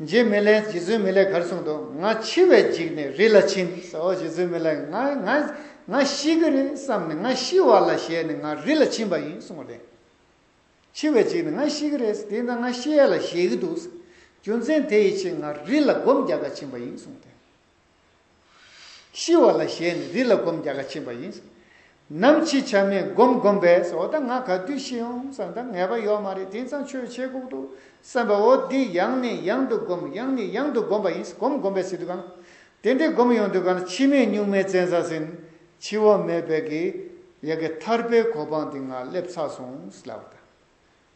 འཇིགས་མི་ལེན་རྗེ་བཙུན་མི་ལེགས་གར་གསུང་དུ་ང་འཆི་བས་འཇིགས་ནས་རི་ལ་ཕྱིན། ཨོ་རྗེ་བཙུན་མི་ལེགས་ང་ང་ང་ཤི་གི་རེད་བསམ་ནས་ང་ཤི་བ་ལ་ཞེད་ནས་ང་རི་ལ་ཕྱིན་པ་ཡིན་གསུང་བ་ལས། འཆི་བས་འཇིགས་ནས་ང་ཤི་གི་རེད་དེ་ན་ང་ཤི་ཡ་ལ་ཞེད་ཀྱི་འདུག་ཟེར། རྒྱུ་མཚན་དེ་ཡི་ཕྱིར་ང་རི་ལ་སྒོམ་རྒྱག་ག་ཕྱིན་པ་ཡིན་གསུང་སྟེ། ཤི་བ་ལ་གཞལ་ནས་རི་ལ་སྒོམ་བརྒྱ་ཁ་ཕྱིན་པ་ཡིན། ནམ་འཆི་ཆ་མེད་སྒོམ་བསྒོམས་པས་འོ་ད་ང་ག་དུས་ཤི་ཡོང་བསམ་ད་ངལ་བ་ཡོད་མ་རེད་དེང་སང་ཆོས་བྱེད་ཁུག་འདུག་བསམ་པས་འོ་འདི་ཡང་ནས་ཡང་དུ་སྒོམ་ཡང་ནས་ཡང་དུ་སྒོམ་པ་ཡིན་སྒོམ་བསྒོམས་པས་སྲིད་དུ་གང། དེ་འདྲའི་སྒོམ་ཡོང་དུས་གང་ན་འཆི་མེད་གཉུག་མའི་བཙན་ས་ཟིན། འཆི་བ་མེད་པའི་གི་ཡ་གི་ཐར་པའི་གོ་འཕང་དེ་ང་སླེབས་ཚར་སོང་ལབ་ད།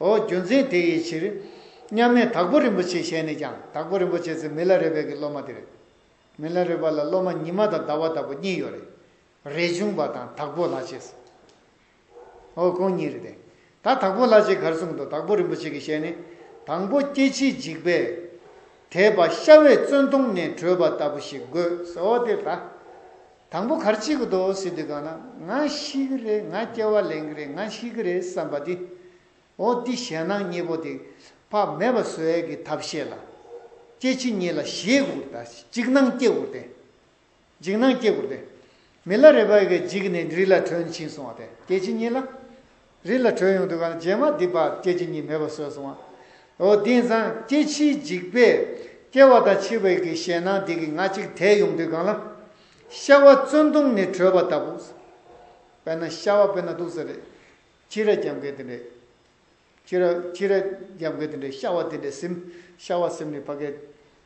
ཨོ་རྒྱུ་མཚན་དེ་ཡི་ཕྱིར། མཉམ་མེད་དྭགས་པོ་རིན་པོ་ཆེ་ཞལ་ནས་ཀྱང་དྭགས་པོ་རིན་པོ་ཆེ་ཚེ་མི་ལ་རས་པའི་གི་སློབ་མ་དེ་རེད། མི་ལ་རས་པ་ལ་སློབ་མ་ཉི་མ་དང་ཟླ་བ་ལྟ་བུ་གཉིས་ཡོད་རེད། རས་ཆུང་པ་དང་དྭགས་པོ་ལྷ་ཆེ། ཨོ་ཁོང་གཉིས་རེད་དེ། ད་དྭགས་པོ་ལྷ་ཆེ་གར་སོང་འདུག་དྭགས་པོ་རིན་པོ་ཆེ་གི་ཞལ་ནས་དང་པོ་སྐྱེ་འཆིའི་འཇིགས་པས་དེད་པ་ཤྭ་བས་བཙོན་དོང་ནས་བྲོས་པ་ལྟ་བུ་ཞིག་དགོས། ཨོ་དེ་ལྟ། དང་པོ་གར་སྐྱེས་ཀྱི་དོགས་བསུ་དེ་གང་ན་ང་ཤི་གི་རེད་ང་སྐྱེ་བ་ལེན་གི་རེད་ང་ཤི་གི་རེད་བསམ་པ་དེ་འོ་འདི་ཞེད་སྣང་གཉིས་པོ་དེ་བག་མེད་པ་བཟོད་ཡས་ཀྱི་ཐབས་ཤེས་ལ་སྐྱེ་འཆི་གཉིས་ལ་ཞེད་དགུར་ལྟ་འཇིགས་སྣང་སྐྱེ་དགུར་ལྟས་འཇིགས་སྣང་སྐྱེ་དགུར་ལྟས་མི་ལ་རེ་བ་ཡས་ཀྱི་འཇིགས་ནས་རིགས་ལ་དྲོད་འཆིང་སོང་བ་དེ་སྐྱེ་འཆི་གཉིས་ལ་རི་ལ་བྲོས་ཡོང་དུས་གངས་ཅན་མ་འདི་པ་སྐྱེ་འཆི་གཉིས་མེད་པར་བཟོས་སོང་བ། འོ་དེང་སང་སྐྱེ་འཆིའི་འཇིགས་པས་སྐྱེ་བ་དང་འཆི་བའི་གི་ཞེད་སྣང་དེ་གི་ང་གཅིག་དལ་ཡོང་དུས་གང་ལ། ཤྭ་བ་བཙོན་དུང་ནས་བྲོས་པ་ལྟ་བུ། དཔེར་ན་ཤྭ་བ་དཔེར་ན་དུག་ཟ་རེད། ཅི་རེད་རྒྱབ་འགལ་དེ་འདྲས། ཅི་རེད་ཅི་རེད་རྒྱབ་འགལ་དེ་འདྲས་ཤྭ་བ་དེ་འདྲས་སིམ། ཤྭ་བ་སིམ་ནས་ཕ་གས།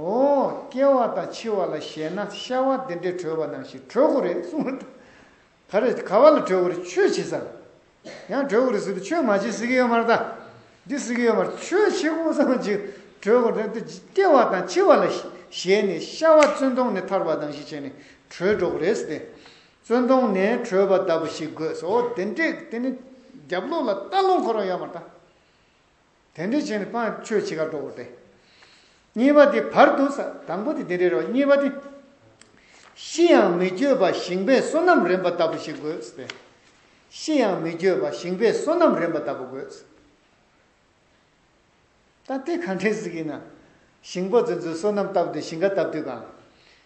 འོ། སྐྱེ་བ་དང་འཆི་བ་ལ་ཞེན་ན་ཤ་བ་འདི་འདྲས་གྲོལ་བ་ནང་བཞིན་གྲོལ་གོ་རེད་གསུངས་པ་དང། ག་རེ་ག་བ་ལ་གྲོལ་གོ་རེད་ཆོས་བྱེད་ས་ལ། ཡང་གྲོལ་གོ་རེད་ཟེར་དུས་ཆོས་མ་བྱེད་ཟེར་གི་ཡོད་མ་རེད་ད། འདི་ཟེར་གི་ཡོད་མ་རེད་ཆོས་བྱེད་གོ་ས་ལ་འཇིག་གྲོལ་གོ་རེད་ད་སྐྱེ་བ་དང་འཆི་བ་ལ་ཞེན་ནས་ཤ་བ་བཙོན་དོང་ནས་ཐར་བ་ནང་བཞིན་བྱས་ནས་གྲོལ་འགྲོ་གོ་རེད་ཟེར་ཏེ། བཙོན་དོང་ནས་གྲོལ་བ་ལྟ་བུ་ཞིག་དགོས་ཟེར་འོ་དེ་འདྲས་དེ་ནི་རྒྱབ་ལོགས་ལ་ལྟ་ལོང་ཁོ་རང་ཡོད་མ་རེད་ད། དེ་འདི་བྱས་ནས་སྤང་ཆོས་ཕྱེད་ཀ་སྒྲོག་གོ་སྟེ། གཉིས་པ་དེ་བར་དུ་ས་དང་པོ་དེ་དེ་རེད་རོ་གཉིས་པ་དེ། ཤི་ཡང་མི་བསྐྱོད་པ་ཞིང་པས་བསོད་ནམས་རན་པ་ལྟ་བུ་ཞིག་དགོས་ཏེ། ཤི་ཡང་མི་བསྐྱོད་པ་ཞིང་པས་བསོད་ནམས་རན་པ་ལྟ་བུ་དགོས། ད་དེ་ག་འདྲས་ཟིག་ཡིན་ན། ཞིང་པ་ཚོས་ཚོའི་བསོད་ནམས་ལྟ་བུ་དེ་ཞིང་ཁ་བཏབ་དུས་གང།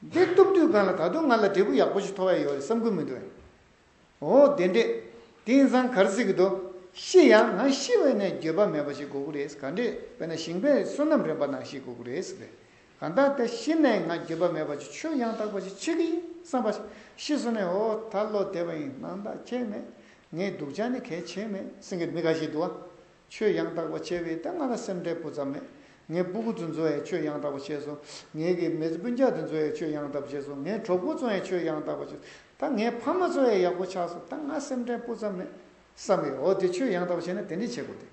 འདི་གཏུབ་དུས་གང་ལ་ད་དུང་ང་ལ་འབྲས་བུ་ཡག་པོ་ཞིག་འཐོར་བ་ཡོད་རེད་བསམ་ཁུལ་མི་འདུག་ཨེ། འོ་བདེན་འདྲེ། དེང་སང་གར་གཟིགས་འདུག་ཤི་ཡང་ང་ཤི་བས་ནས་འགྱོད་པ་མེད་པ་ཞིག་དགོས་ཀྱི་རེད་ག་འདྲེ་བས་ན་ཞིང་པའི་བསོད་ནམས་རན་པ་ནང་ཤི་དགོས་ཀྱི་རེད་ཟེར་བས་གང་ལྟར་དེ་ཤི་ནས་ང་འགྱོད་པ་མེད་པ་ཅིག་ཆོས་ཡང་དག་པ་ཞིག་འཆད་ཀྱི་ཡིན་བསམ་པ་ཤི་སོང་ནས་འོ་ད་བློ་བདེ་བ་ཡིན་སྣང་དག་ཁྱད་མེད་ངའི་སྡུག་ཅག་ནི་གལ་ཆེ་མེད་སེང་གེར་མི་ག་ཤེད་འདུག་ཨ། ཆོས་ཡང་དག་པ་བྱས་པས་ལྟས་ང་ལ་སེམས་འཁྲལ་བུ་ཙམ་མེད། ངས་སྦུ་གུ་ཚོ་འཛོལ་ཡས་ཆོས་ཡང་དག་པ་བྱས་སོ། ངས་གི་མེད་སྤུན་ཆག་དེ་འཛོལ་ཡས་ཆོས་ཡང་དག་པ་བྱས་སོ། ངས་གྲོགས་པོ་ཚོ་ཡང་ཆོས་ཡང་དག་པ་བྱས་སོ། ད་ངས་ཕ་མ་ཚོ་ཡང་ཡག་པོ་ཆགས་སོ་ད་ང་སེམས་འཁྲལ་སྤུ་ཙམ་མེད། བསམ་ཡས་འོ་དེ་ཆོས་ཡང་དག་པ་བྱས་ན་དེ་འདྲས་བྱེད་དགོས་ཏེ།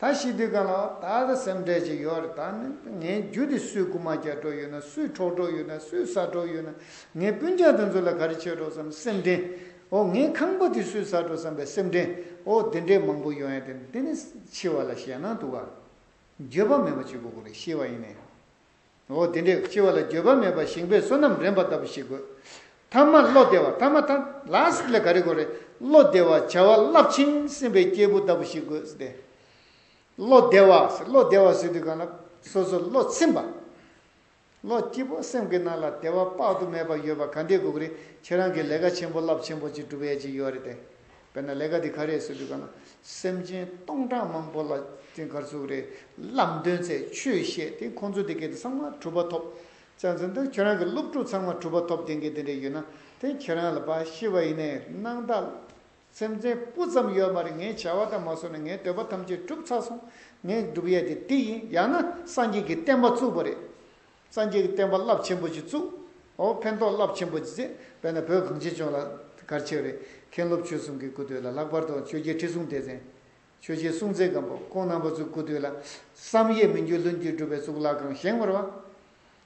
ད་ཤི་དུས་གང་ལ་འོ་ད་ད་སེམས་འཁྲལ་ཅིག་ཡོད་རེད་ད་ནི་ད་ངའི་རྒྱུ་དེ་སུས་རྐུ་མ་རྒྱག་གྲོགས་ཡོད་ན་སུས་འཕྲོག་གྲོགས་ཡོད་ན་སུས་ཟ་གྲོགས་ཡོད་ན་ངས་སྤུན་ཆག་དེ་འཛོལ་ལ་ག་རེ་བྱས་གྲོགས་སམ་སེམས་འཁྲལ་འོ་ངའི་ཁང་པ་དེ་སུས་ཟ་འགྲོ་བསམ་པའི་སེམས་ཁྲལ་འོ་དེ་འདྲའི་མང་པོ་ཡོང་ཡ་དེ་འདི་ནི་འཆི་བ་ལ་ཞེད་སྣང་འདུག་ག། འགྱོད་པ་མེད་པ་ཅིག་དགོས་གོ་རེ་ཤེས་པ་ཡིན་ནས། འོ་དེ་འདྲའི་འཆི་བ་ལ་འགྱོད་པ་མེད་པར་ཞིང་པའི་བསོད་ནམས་རན་པ་ལྟ་བུ་ཞིག་དགོས། ཐ་མ་བློ་བདེ་བ་ཐ་མ་ཐ last ལས་ག་རེ་དགོས་རེ་བློ་བདེ་བ་བྱ་བ་རླབས་ཆེན་སེམས་པའི་སྐྱེས་བུ་ལྟ་བུ་ཞིག་དགོས་ཟེར་ཏེ། བློ་བདེ་བ་ཟེར་བློ་བདེ་བ་ཟེར་དུས་གང་ལ་སོ་སོར་བློ་ཚིམས་པ། ལོ་སྐྱིད་པོ་སེམས་ཀྱི་ནང་ལ་བདེ་བ་དཔག་ཏུ་མེད་པ་ཡོད་པ་ག་འདི་དགུག་རེད་ཁྱེད་རང་གི་ལས་ཀ་ཆེན་པོ་རླབས་ཆེན་པོ་ཅིག་སྒྲུབ་ཡས་ཅིག་ཡོད་རེད་དེ་དཔེར་ན་ལས་ཀ་འདི་ག་རེད་ཟེར་དུས་ག་ན་སེམས་ཅན་སྟོང་ཕྲག་མང་པོ་ལ་དེ་གར་ཟུག་རེད་རླབས་མདུན་བརྩེ་ཆོས་བཤད་དེ་ཁོང་ཚོ་འདི་གས་དེ་ཚང་མ་གྲུབ་པ་ཐོབ་བཙན་བཙན་དོན་ཁྱེད་རང་གི་སློབ་ཕྲུག་ཚང་མ་གྲུབ་པ་ཐོབ་དེ་གས་དེ་འདྲས་ཡོད་ན་དེ་ཁྱེད་རང་ལ་བ་ཤི་བ་ཡིན་ནའི་གནང་བདག། སེམས་ཅན་སྤུ་ཙམ་ཡོད་མ་རེད་ངའི་བྱ་བ་དང་མ་སོ་ན་ངའི་འདོད་པ་ཐམས་ཅད་བསྒྲུབས་ཚར་སོང་ངའི་སྒྲུབ་ཡས་དེ་འདི་ཡིན་ཡང་ན་སངས་རྒྱས་ཀྱི་བསྟན་པ་བཙུགས་པ་རེད་སངས་རྒྱས་ཀྱི་བསྟན་པ་རླབས་ཆེན་པོ་ཞིག་བཙུགས་འོ་ཕན་ཐོགས་རླབས་ཆེན་པོ་ཞིག་བྱས་བས་ན་བོད་གངས་ཅན་ལྗོངས་ལ་གར་ཆེ་བ་རེད་མཁན་སློབ་ཆོས་སྲུང་གི་སྐུ་དོད་ལ་ལྷག་པར་དུ་ཆོས་རྒྱལ་ཁྲི་སྲོང་ལྡེ་བཙན་ཆོས་རྗེ་སྲུང་བཙན་སྒམ་པོ་ཁོང་རྣམ་པ་ཚོའི་སྐུ་དོད་ལ་བསམ་ཡས་མི་འགྱུར་ལྷུན་གྱིས་གྲུབ་པའི་གཙུག་ལག་ཁང་བཞེངས་བར་བ།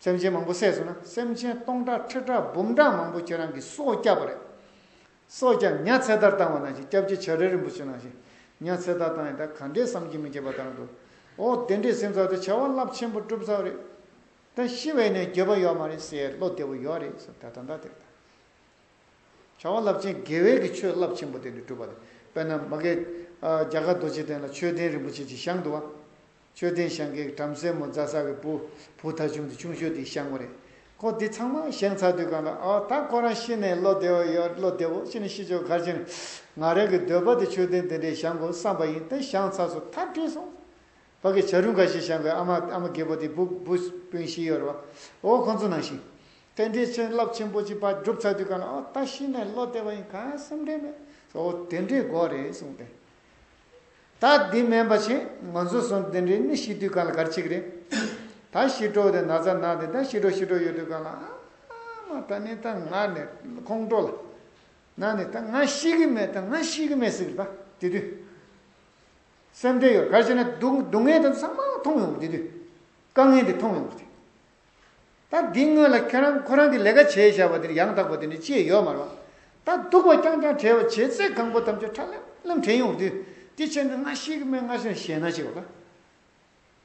སེམས་ཅན་མང་པོ་བསད་སོང་ན་སེམས་ཅན་སྟོང་ཕྲག་ཁྲི་ཕྲག་འབུམ་ཕྲག་མང་པོ་ཁྱེད་རང་གིས་སྲོག་བསྐྱབས་པ་རེད། སྲོག་བསྐྱབས་ཉག་ཚེ་ཐར་བཏང་བ་ནང་བཞིན་སྐྱབས་རྗེ་བྱ་རལ་རིན་པོ་ཆེ་ནང་བཞིན་ཉག་ཚེ་ཐར་བཏང་ཡང་ད་ག་འདྲའི་བསམ་གྱིས་མི་ཁྱབ་པ་བཏང་འདུག་ཨོ་དེ་འདྲའི་སེམས་ཚོར་དེ་བྱ་བ་རླབས་ཆེན་པོ་སྒྲུབ་ཚར་བ་རེད། ད་ཤི་བའི་ནས་འགྱོད་པ་ཡོད་མ་རེད་སའི་བློ་བདེ་བོ་ཡོད་རེད་ཟེར་ད་ད་འདྲ་དེ་རེད་ད། བྱ་བ་རླབས་ཆེན་དགེ་བས་ཀྱི་ཆོས་རླབས་ཆེན་པོ་དེ་འདྲ་སྒྲུབ་པ་རེད་དཔེར་ན་མ་གད་རྒྱ་གར་རྡོ་རྗེ་གདན་ལ་ཆོས་ལྡན་རིན་པོ་ཆེ་གཅིག་བཞེངས་འདུག་བ། མཆོད་རྟེན་བཤང་གི་བྲམ་ཟེ་མོ་རྫ་ས་གི་བུ་བུ་ད་ཆུང་དུ་ཆུང་ཤོས་དེ་བཤང་མོ་རེད་ཁོ་དེ་ཚང་མ་བཤང་ཚར་དུས་གང་ལ་ཨོ་ད་ཁོ་རང་ཤི་ནས་བློ་བདེ་བོ་ཡོད་བློ་བདེ་བོ་ཤི་ནས་ཤི་ཆོག་གར་ཕྱིན་ང་རང་གི་འདོད་པ་དེ་མཆོད་རྟེན་དེ་འདྲའི་བཤང་དགོས་བསམ་པ་ཡིན་ད་བཤང་ཚར་སོ་ཐར་བྲོས་སོང་བ་གི་བྱ་རུ་འགའ་ཞིག་བཤང་གི་ཨ་མ་ཨ་མ་རྒད་པོ་དེ་བུ་བུ་སྤུན་བཞི་ཡོད་རེད་བ་ཨོ་ཁོ་ཚོ་ནང་བཞིན་རྟེན་འབྲེལ་ཆེན་རླབས་ཆེན་པོ་གཅིག་པ་བསྒྲུབ་ཚར་དུས་གང་ལ་ཨོ་ད་ཤི་ནས་བློ་བདེ་བ་ཡིན་གང་སེམས་ཁྲལ་མེད་སོ་ཨོ་དེ་འདྲའི་དགོས་རེད་གསུངས་ཏེ་ད་འདི་སྨན་པ་བྱེད་ང་ཚོ་སོང་དེ་འདྲའི་མི་ཤི་དུས་གང་ལ་གར་ཆིག་རེད་ད་ཤི་གྲོགས་དེ་ན་ཚ་ནག་དེ་ད་ཤི་གྲོགས་ཤི་གྲོགས་ཡོད་དུས་གང་ལ་ཨ་མ་ད་ནི་ད་ང་ནི་ཁོང་ཁྲོ་ལ་ན་ནི་ད་ང་ཤི་གི་མེད་ད་ང་ཤི་གི་མེད་ཟེར་ད་དེ་དུས་སེམས་ཁྲལ་ཡོད་གར་བྱས་ན་སྡུག་བསྔལ་དེ་ཚང་མ་མཐོང་ཡོང་གི་དེ་དུས་དཀའ་ངལ་འདི་མཐོང་ཡོང་གི་དེ་ད་འདི་སྔོན་ལ་ཁྱོད་རང་ཁོ་རང་གི་ལས་ཀ་བྱས་བཞག་པ་དེར་ཡང་དག་པ་དེ་ནི་ཅིའི་ཡོད་མ་རུང། ད་སྡུག་པ་རྐྱང་རྐྱང་བྲལ་བ་བྱས་ཚད་གང་པོ་ཐམས་ཅད་ཁྲ་ལམ་ལམ་དྲན་ཡོང་བ་དུས་དེ་ཕྱིར་ནི་སྔར་ཤེས་ཀྱི་མེད་སྔར་བཞིན་ཞེད་སྣང་ཞིག་ལ།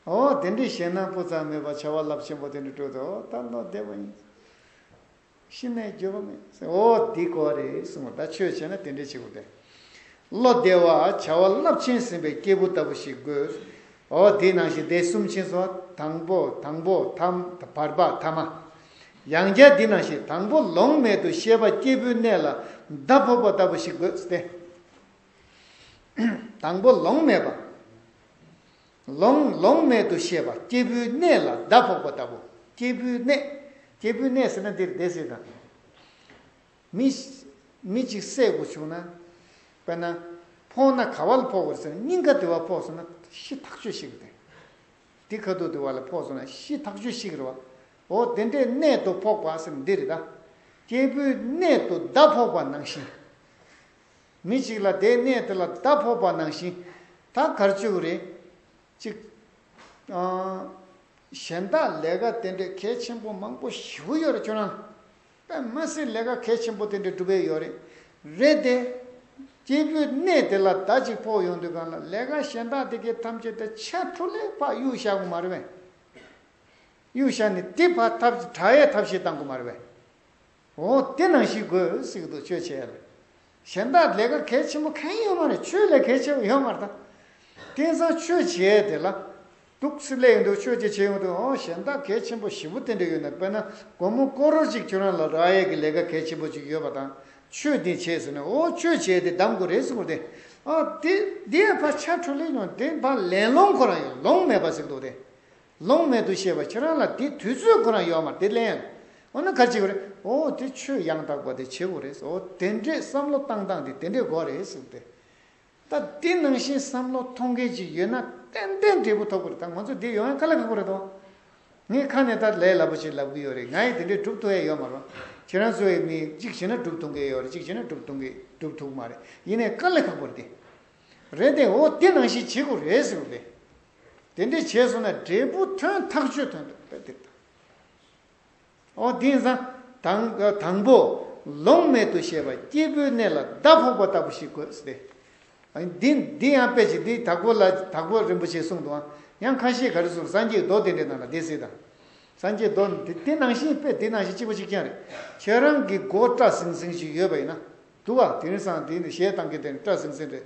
འོ་དེ་འདྲའི་ཞེད་སྣང་སྤུ་ཙམ་མེད་པར་བྱ་བ་རླབས་ཆེན་པོ་དེ་འདྲ་སྤྲོད་དོ་ད་ལོ་བདེ་བ་ཡིན། ཤི་ནས་འགྱོད་པ་མེད། ཨོ་འདི་ཀོ་རེད་གསུང་བ་ད་ཆོས་བྱས་ན་དེ་འདྲའི་བྱེད་པོ་དེ། བློ་བདེ་བ་བྱ་བ་རླབས་ཆེན་ཟིན་པའི་སྐྱེས་བུ་ལྟ་བུ་ཞིག་དགོས། ཨོ་དེ་ནང་བཞིན་དེ་གསུམ་ཕྱིན་སོང་དང་པོ་དང་པོ་ཐམ་བར་པ་ཐ་མ། ཡང་བསྐྱར་འདི་ནང་བཞིན་དང་པོ་ལོང་མེད་དུ་ཤེས་པ་སྐྱེས་བུའི་གནས་ལ་མདའ་ཕོག་པ་ལྟ་བུ་ཞིག་དགོས་ཏེ། དང་པོ་ལོང་མེད་པ། ལོང་ལོང་མེད་དུ་ཤེས་པ་སྐྱེས་བུའི་གནས་ལ་ཟླ་ཕོག་པ་ལྟ་བུ། སྐྱེས་བུའི་གནས། སྐྱེས་བུའི་གནས་ཟེར་ན་འདིར་བདེ་གསལ་དང། མི། མི་གཅིག་བསད་དགོས་བྱུང་ན། དཔེར་ན། ཕོག་ན་ག་བ་ལ་ཕོག་དགོས་ཟེར་ན་སྙིང་ག་དེ་བ་ཕོག་སོང་ན་ཤི་ཐག་ཆོད་ཤིག་དེ། འདི་ཁ་དོག་དེ་བ་ལ་ཕོག་སོང་ན་ཤི་ཐག་ཆོད་ཤིག་རེད་བ། འོ་དེ་འདྲའི་གནས་དུ་ཕོག་པ་ཟེར་ན་འདི་རེད་ད། སྐྱེས་བུའི་གནས་དུ་ཟླ་ཕོག་པ་ནང་བཞིན། མི་གཅིག་ལ་དེའི་གནས་དེ་ལ་བརྡ་ཕོག་པ་ནང་བཞིན་ད་གར་བཅུག་རེ། གཅིག། གཞན་དག་ལས་ཀ་དེ་འདྲའི་གལ་ཆེན་པོ་མང་པོ་ཞིག་བུ་ཡོད་རེད་ཁྱོད་རང། པདྨ་སི་ལས་ཀ་གལ་ཆེན་པོ་དེ་འདྲའི་སྒྲུབ་འི་ཡོད་རེད། རེད་དེ། སྐྱེས་བུའི་གནས་དེ་ལ་བརྡ་གཅིག་ཕོག་ཡོང་དུས་གང་ལ་ལས་ཀ་གཞན་དག་དེ་གའི་ཐམས་ཅད་དུ་ཆད་འཕྲུ་ལས་ཕག་གཡུག་བཞག་གོ་མ་རེད་བས། གཡུག་བཞག་ནས་དེ་ཕག་ཐབས་ཀྱི་བྲག་ཡས་ཐབས་ཤེས་བཏང་གོ་མ་རེད་བས། འོ་དེ་ནང་བཞིན་དགོས་གཟིགས་དུ་བཅོས་བྱས་རེད། གཞན་དག་ལས་ཀ་གལ་ཆེན་པོ་གང་ཡོད་མ་རེད་ཆོས་ལས་གལ་ཆེ་བ་ཡོད་མ་རེད་ད། དེང་སང་ཆོས་བྱས་དེ་ལ། དུག་སེལ་ལས་ཡོད་འདུག་ཆོས་ཀྱི་བྱེད་ཡོང་དུས་འོ་གཞན་དག་གལ་ཆེན་པོ་བཞི་པོ་དེ་འདྲ་ཡོད་ན་དཔེར་ན་དགོང་མོ་སྐོར་རོལ་ཅིག་ཁྱོད་རང་ལ་ར་ཡས་ཀྱི་ལས་ཀ་གལ་ཆེན་པོ་ཅིག་ཡོད་པ་དང་ཆོས་འདི་བྱས་ཟེར་ནས་འོ་ཆོས་བྱས་དེ་བདམས་དགོས་རེད་གཟིགས་པོ་དེ། འོ་དེ་དེའི་བར་ཆ་འཕྲོ་ལེགས་ཡོང་དེའི་བར་ལན་སློང་ཁོ་རང་ཡོད་ལོང་མེད་པ་གཟིགས་འདུག་དེ། ལོང་མེད་དུ་ཤེས་པ་ཁྱེད་རང་ལ་དེ་དུས་ཚོད་ཁོ་རང་ཡོད་མར་དེ་གླེང། འོ་ན་གར་བྱེད་དགོས་རེད་ཨོ་དེ་ཆོས་ཡང་དག་པ་དེ་བྱེད་དགོས་རེད་ཨོ་དེ་འདྲས་བསམ་བློ་བཏང་བཏང་དེ་དེ་འདྲས་དགོས་རེད་ཟེར་དེ། ད་དེ་ནང་བཞིན་བསམ་བློ་ཐོང་མཁན་ཅིག་ཡོད་ན་ཏན་ཏན་འབྲས་བུ་ཐོབ་དགོས་རེད་ད་ང་ཚོ་དེ་ཡོང་ཡང་ཁ་ལ་ཁ་དགོས་རེད་དོ། ངས་ཁ་ནས་ད་ལས་སླ་པོ་ཞིག་ལབ་གི་ཡོད་རེད་ང་ཡིས་དེ་འདྲས་སྒྲུབ་ཐུ་ཡ་ཡོད་མ་རོ། ཁྱེད་རང་ཚོའི་མིས་གཅིག་བྱས་ན་སྒྲུབ་ཐུ་མཁན་ཡོད་རེད་གཅིག་བྱས་ན་སྒྲུབ་ཐུ་སྒྲུབ་ཐུག་མ་རེད་ཡིན་ནའི་ཁ་ལ་ཁ་དགོས་རེད་དེ། རེད་དེ་ཨོ་དེ་ནང་བཞིན་བྱེད་དགོས་རེད་ཟེར་དེ། དེ་འདྲས་བྱས་སོང་ན་འབྲས་བུ་ཐོན་ཐག་ཆོད་ཐོན་ཐུབ་ད་དེ་ལྟར་ཨོ་དེ་ཡིན་ཙང་དང་དང་པོ་ལོང་མེད་དུ་ཤེས་པ་སྐྱེས་བུའི་གནས་ལ་ཟླ་ཕོག་པ་ལྟ་བུ་ཞིག་དགོས་སྟེ། འདི་འདི་ཡང་དཔེ་ཞིག་འདི་དྭགས་པོ་ལ་དྭགས་པོ་རིན་པོ་ཆེས་གསུངས་འདུག་ཡང་ཁ་ཤས་ག་རེ་སུ་སངས་རྒྱས་རྡོ་དེ་འདྲས་ནང་ལ་བསྡད་སྲིད་དམ། སངས་རྒྱས་རྡོ་འདི་དེ་ནང་བཞིན་དཔེ་དེ་ནང་བཞིན་གཅིག་པ་གཅིག་རྐྱང་རེད་ཁྱེད་རང་གི་མགོ་སྐྲ་ཟིང་ཟིང་ཞིག་ཡོད་པ་ཡིན་ན། འདུག་བ་དེ་ཡིན་ཙང་དེ་ཞེད་སྟངས་ཀྱི་དེ་ནི་སྐྲ་ཟིང་ཟིང་རེད།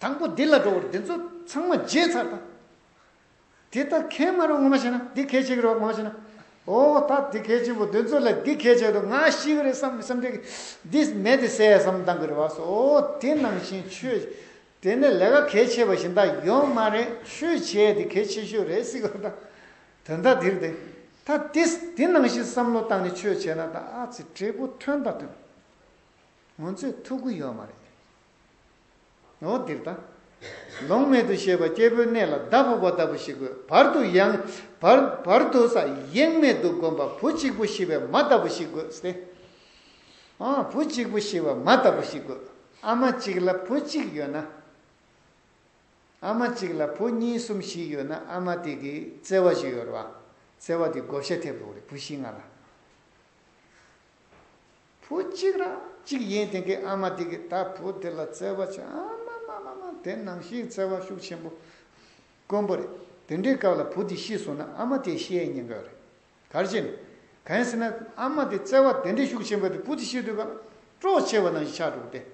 དང་པོ་འདི་ལ་འགྲོ་བར་འདི་ཚོ་ཚང་མ་བརྗེད་ཚར་དང། དེ་ལྟ་གན་མ་རུང་ངོ་མ་ཤེས་ན་འདི་གལ་ཆེ་གི་རོགས་ངོ་མ་ཤེས་ན། ཨོ་ད་འདི་གལ་ཆེན་པོ་འདི་ཚོ་ལས་འདི་གལ་ཆེ་འདུག་ང་ཤི་གི་རེད་བསམ་མི་བསམ་འགྲིག་གི། འདི་མེད་འདི་ཟད་བསམ་གཏང་གི་རེད་བ་སོ་ཨོ་དེ་ནང་བཞིན་ཆོས། དེ་ནས་ལས་ཀ་གལ་ཆེ་བ་ཞིག་འདའ་ཡོང་མ་རེད་ཆོས་བྱས་འདི་གལ་ཆེ་ཤོས་རེད་སྲིད་གི་རེད་དང། དོན་དག་འདིར་འདི། ད་འདི་འདི་ནང་བཞིན་བསམ་བློ་བཏང་ནས་ཆོས་བྱས་ན་ད་ཨ་ཙི་འབྲས་བུ་ཐོན་དང་ཐོན། ང་ཚོས་ཐུགས་ཁུར་ཡོད་མ་རེད། ངོ། འདིར་དང། ལོང་མེད་དུ་ཤེས་པ་སྐྱེས་བུའི་གནས་ལ་བདག་ཕུག་པ་ལྟ་བུ་ཞིག་གོ། བར་དུ་ཡང། བར། བར་དུ་ས། ཡེངས་མེད་དུ་བསྒོམ་པ་བུ་གཅིག་པུ་ཤི་བའི་མ་ལྟ་བུ་ཞིག་དགོས་ཏེ། འོང། བུ་གཅིག་པུ་ཤི་བའི་མ་ལྟ་བུ་ཞིག་དགོས། ཨ་མ་གཅིག་ལ་བུ་གཅིག་ཡོད་ན། ཨ་མ་གཅིག་ལ་བུ་གཉིས་གསུམ་བཞི་ཡོད་ན་ཨ་མ་དེ་གིས་བརྩེ་བ་བཞི་ཡོད་རེད་བ། བརྩེ་བ་དེ་བགོ་བཤའ་ཐེབས་རོགས་རེད་བུ་བཞི་ལྔ་ལ། བུ་གཅིག་ར་གཅིག་ཡིན་དེང་གི་ཨ་མ་དེ་གི་ད་བུ་དེ་ལ་བརྩེ་བ་ཆེ་ཨ་མ་མ་མ་མ་དེ་ནང་བཞིན་བརྩེ་བ་ཤུགས་ཆེན་པོ་དཀོན་པོ་རེད་དེ་འདྲའི་སྐབས་ལ་བུ་དེ་ཤི་སོང་ན་ཨ་མ་དེ་ཤེས་ཡས་ཉན་ག་རེད་གར་བྱེད་ནས་གན་ཟེར་ན་ཨ་མ་དེ་བརྩེ་བ་དེ་འདྲའི་ཤུགས་ཆེན་པོ་དེ་བུ་དེ་ཤི་དུས་སྐབས་སྤྲོ་ཆེ་བ་ནང་བཞིན་ཆགས་འགྲོ་གི་དེ་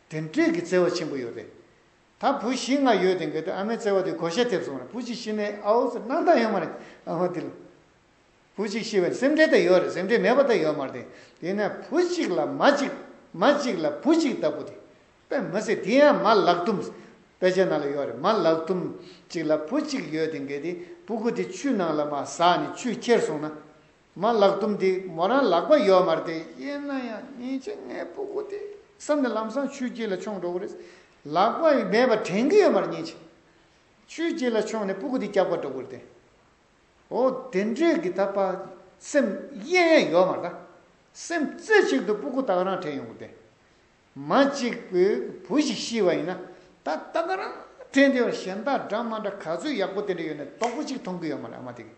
དེ་འདྲའི་གི་བརྩེ་བ་ཆེན་པོ་ཡོད་རེད་ད་བུ་བཞི་ལྔ་ཡོད་དེང་གི་ད་ཨ་མའི་བརྩེ་བ་དེ་གོ་ཤ་ཐེབས་སོང་རེད་བུ་གཅིག་ཤི་ནས་ཨའོ་ཟེར་སྣང་དང་ཡོད་མ་རེད་ཨ་མ་དེ་ལ། བུ་གཅིག་ཤི་བས་སེམས་ཁྲལ་དེ་ཡོད་རེད་སེམས་ཁྲལ་མེད་པ་དེ་ཡོད་མ་རེད་དེ་ནས་བུ་གཅིག་ལ་མ་གཅིག་མ་གཅིག་ལ་བུ་གཅིག་ལྟ་བུ་དེ་དཔེ་མི་སྲིད་དེ་ཡང་མ་ལག་དུམ་དཔེ་ཆའི་ནང་ལ་ཡོད་རེད་མ་ལག་དུམ་གཅིག་ལ་བུ་གཅིག་ཡོད་དེ་འགས་དེ་བུ་གུ་དེ་ཆུ་ནང་ལ་མ་ཟགས་ནས་ཆུས་ཁྱེར་སོང་ན་མ་ལག་དུམ་དེ་མོ་རང་ལག་པ་ཡོད་མ་རེད་དེ་ཡིན་ན་ཡང་ཉིན་གཅིག་ངའི་བུ་གུ་དེ་བསམ་ནས་ལམ་སང་ཆུའི་དཀྱིལ་ལ་མཆོངས་འགྲོ་གི་རེད་ལག་པ་མེད་པ་དྲན་གི་ཡོད་མ་རེད་ཉིན་གཅིག་ཆུའི་དཀྱིལ་ལ་མཆོངས་ནས་བུ་གུ་དེ་བཀྱག་པ་འགྲོ་གི་རེད་དེ། འོ་དེ་འདྲས་ཀྱི་ད་པར་སེམས་གཡེང་ཡ་ཡོད་མ་གདའ། སེམས་རྩེ་གཅིག་ཏུ་སྤུ་ཀུ་སྟག་རང་དྲན་ཡོང་གི་དེ། མ་གཅིག་པུས་བུ་ཞིག་ཤི་བ་ཡིན་ན་ད་སྟག་རང་དྲན་དེ་བ་གཞན་དག་སྦྲ་མ་འདྲ་ག་ཚོད་ཡག་པོ་དེ་འདྲ་ཡོད་ནས་དོག་པོ་ཅིག་མཐོང་གི་ཡོད་མ་རེད་ཨ་མ་དེ་གི་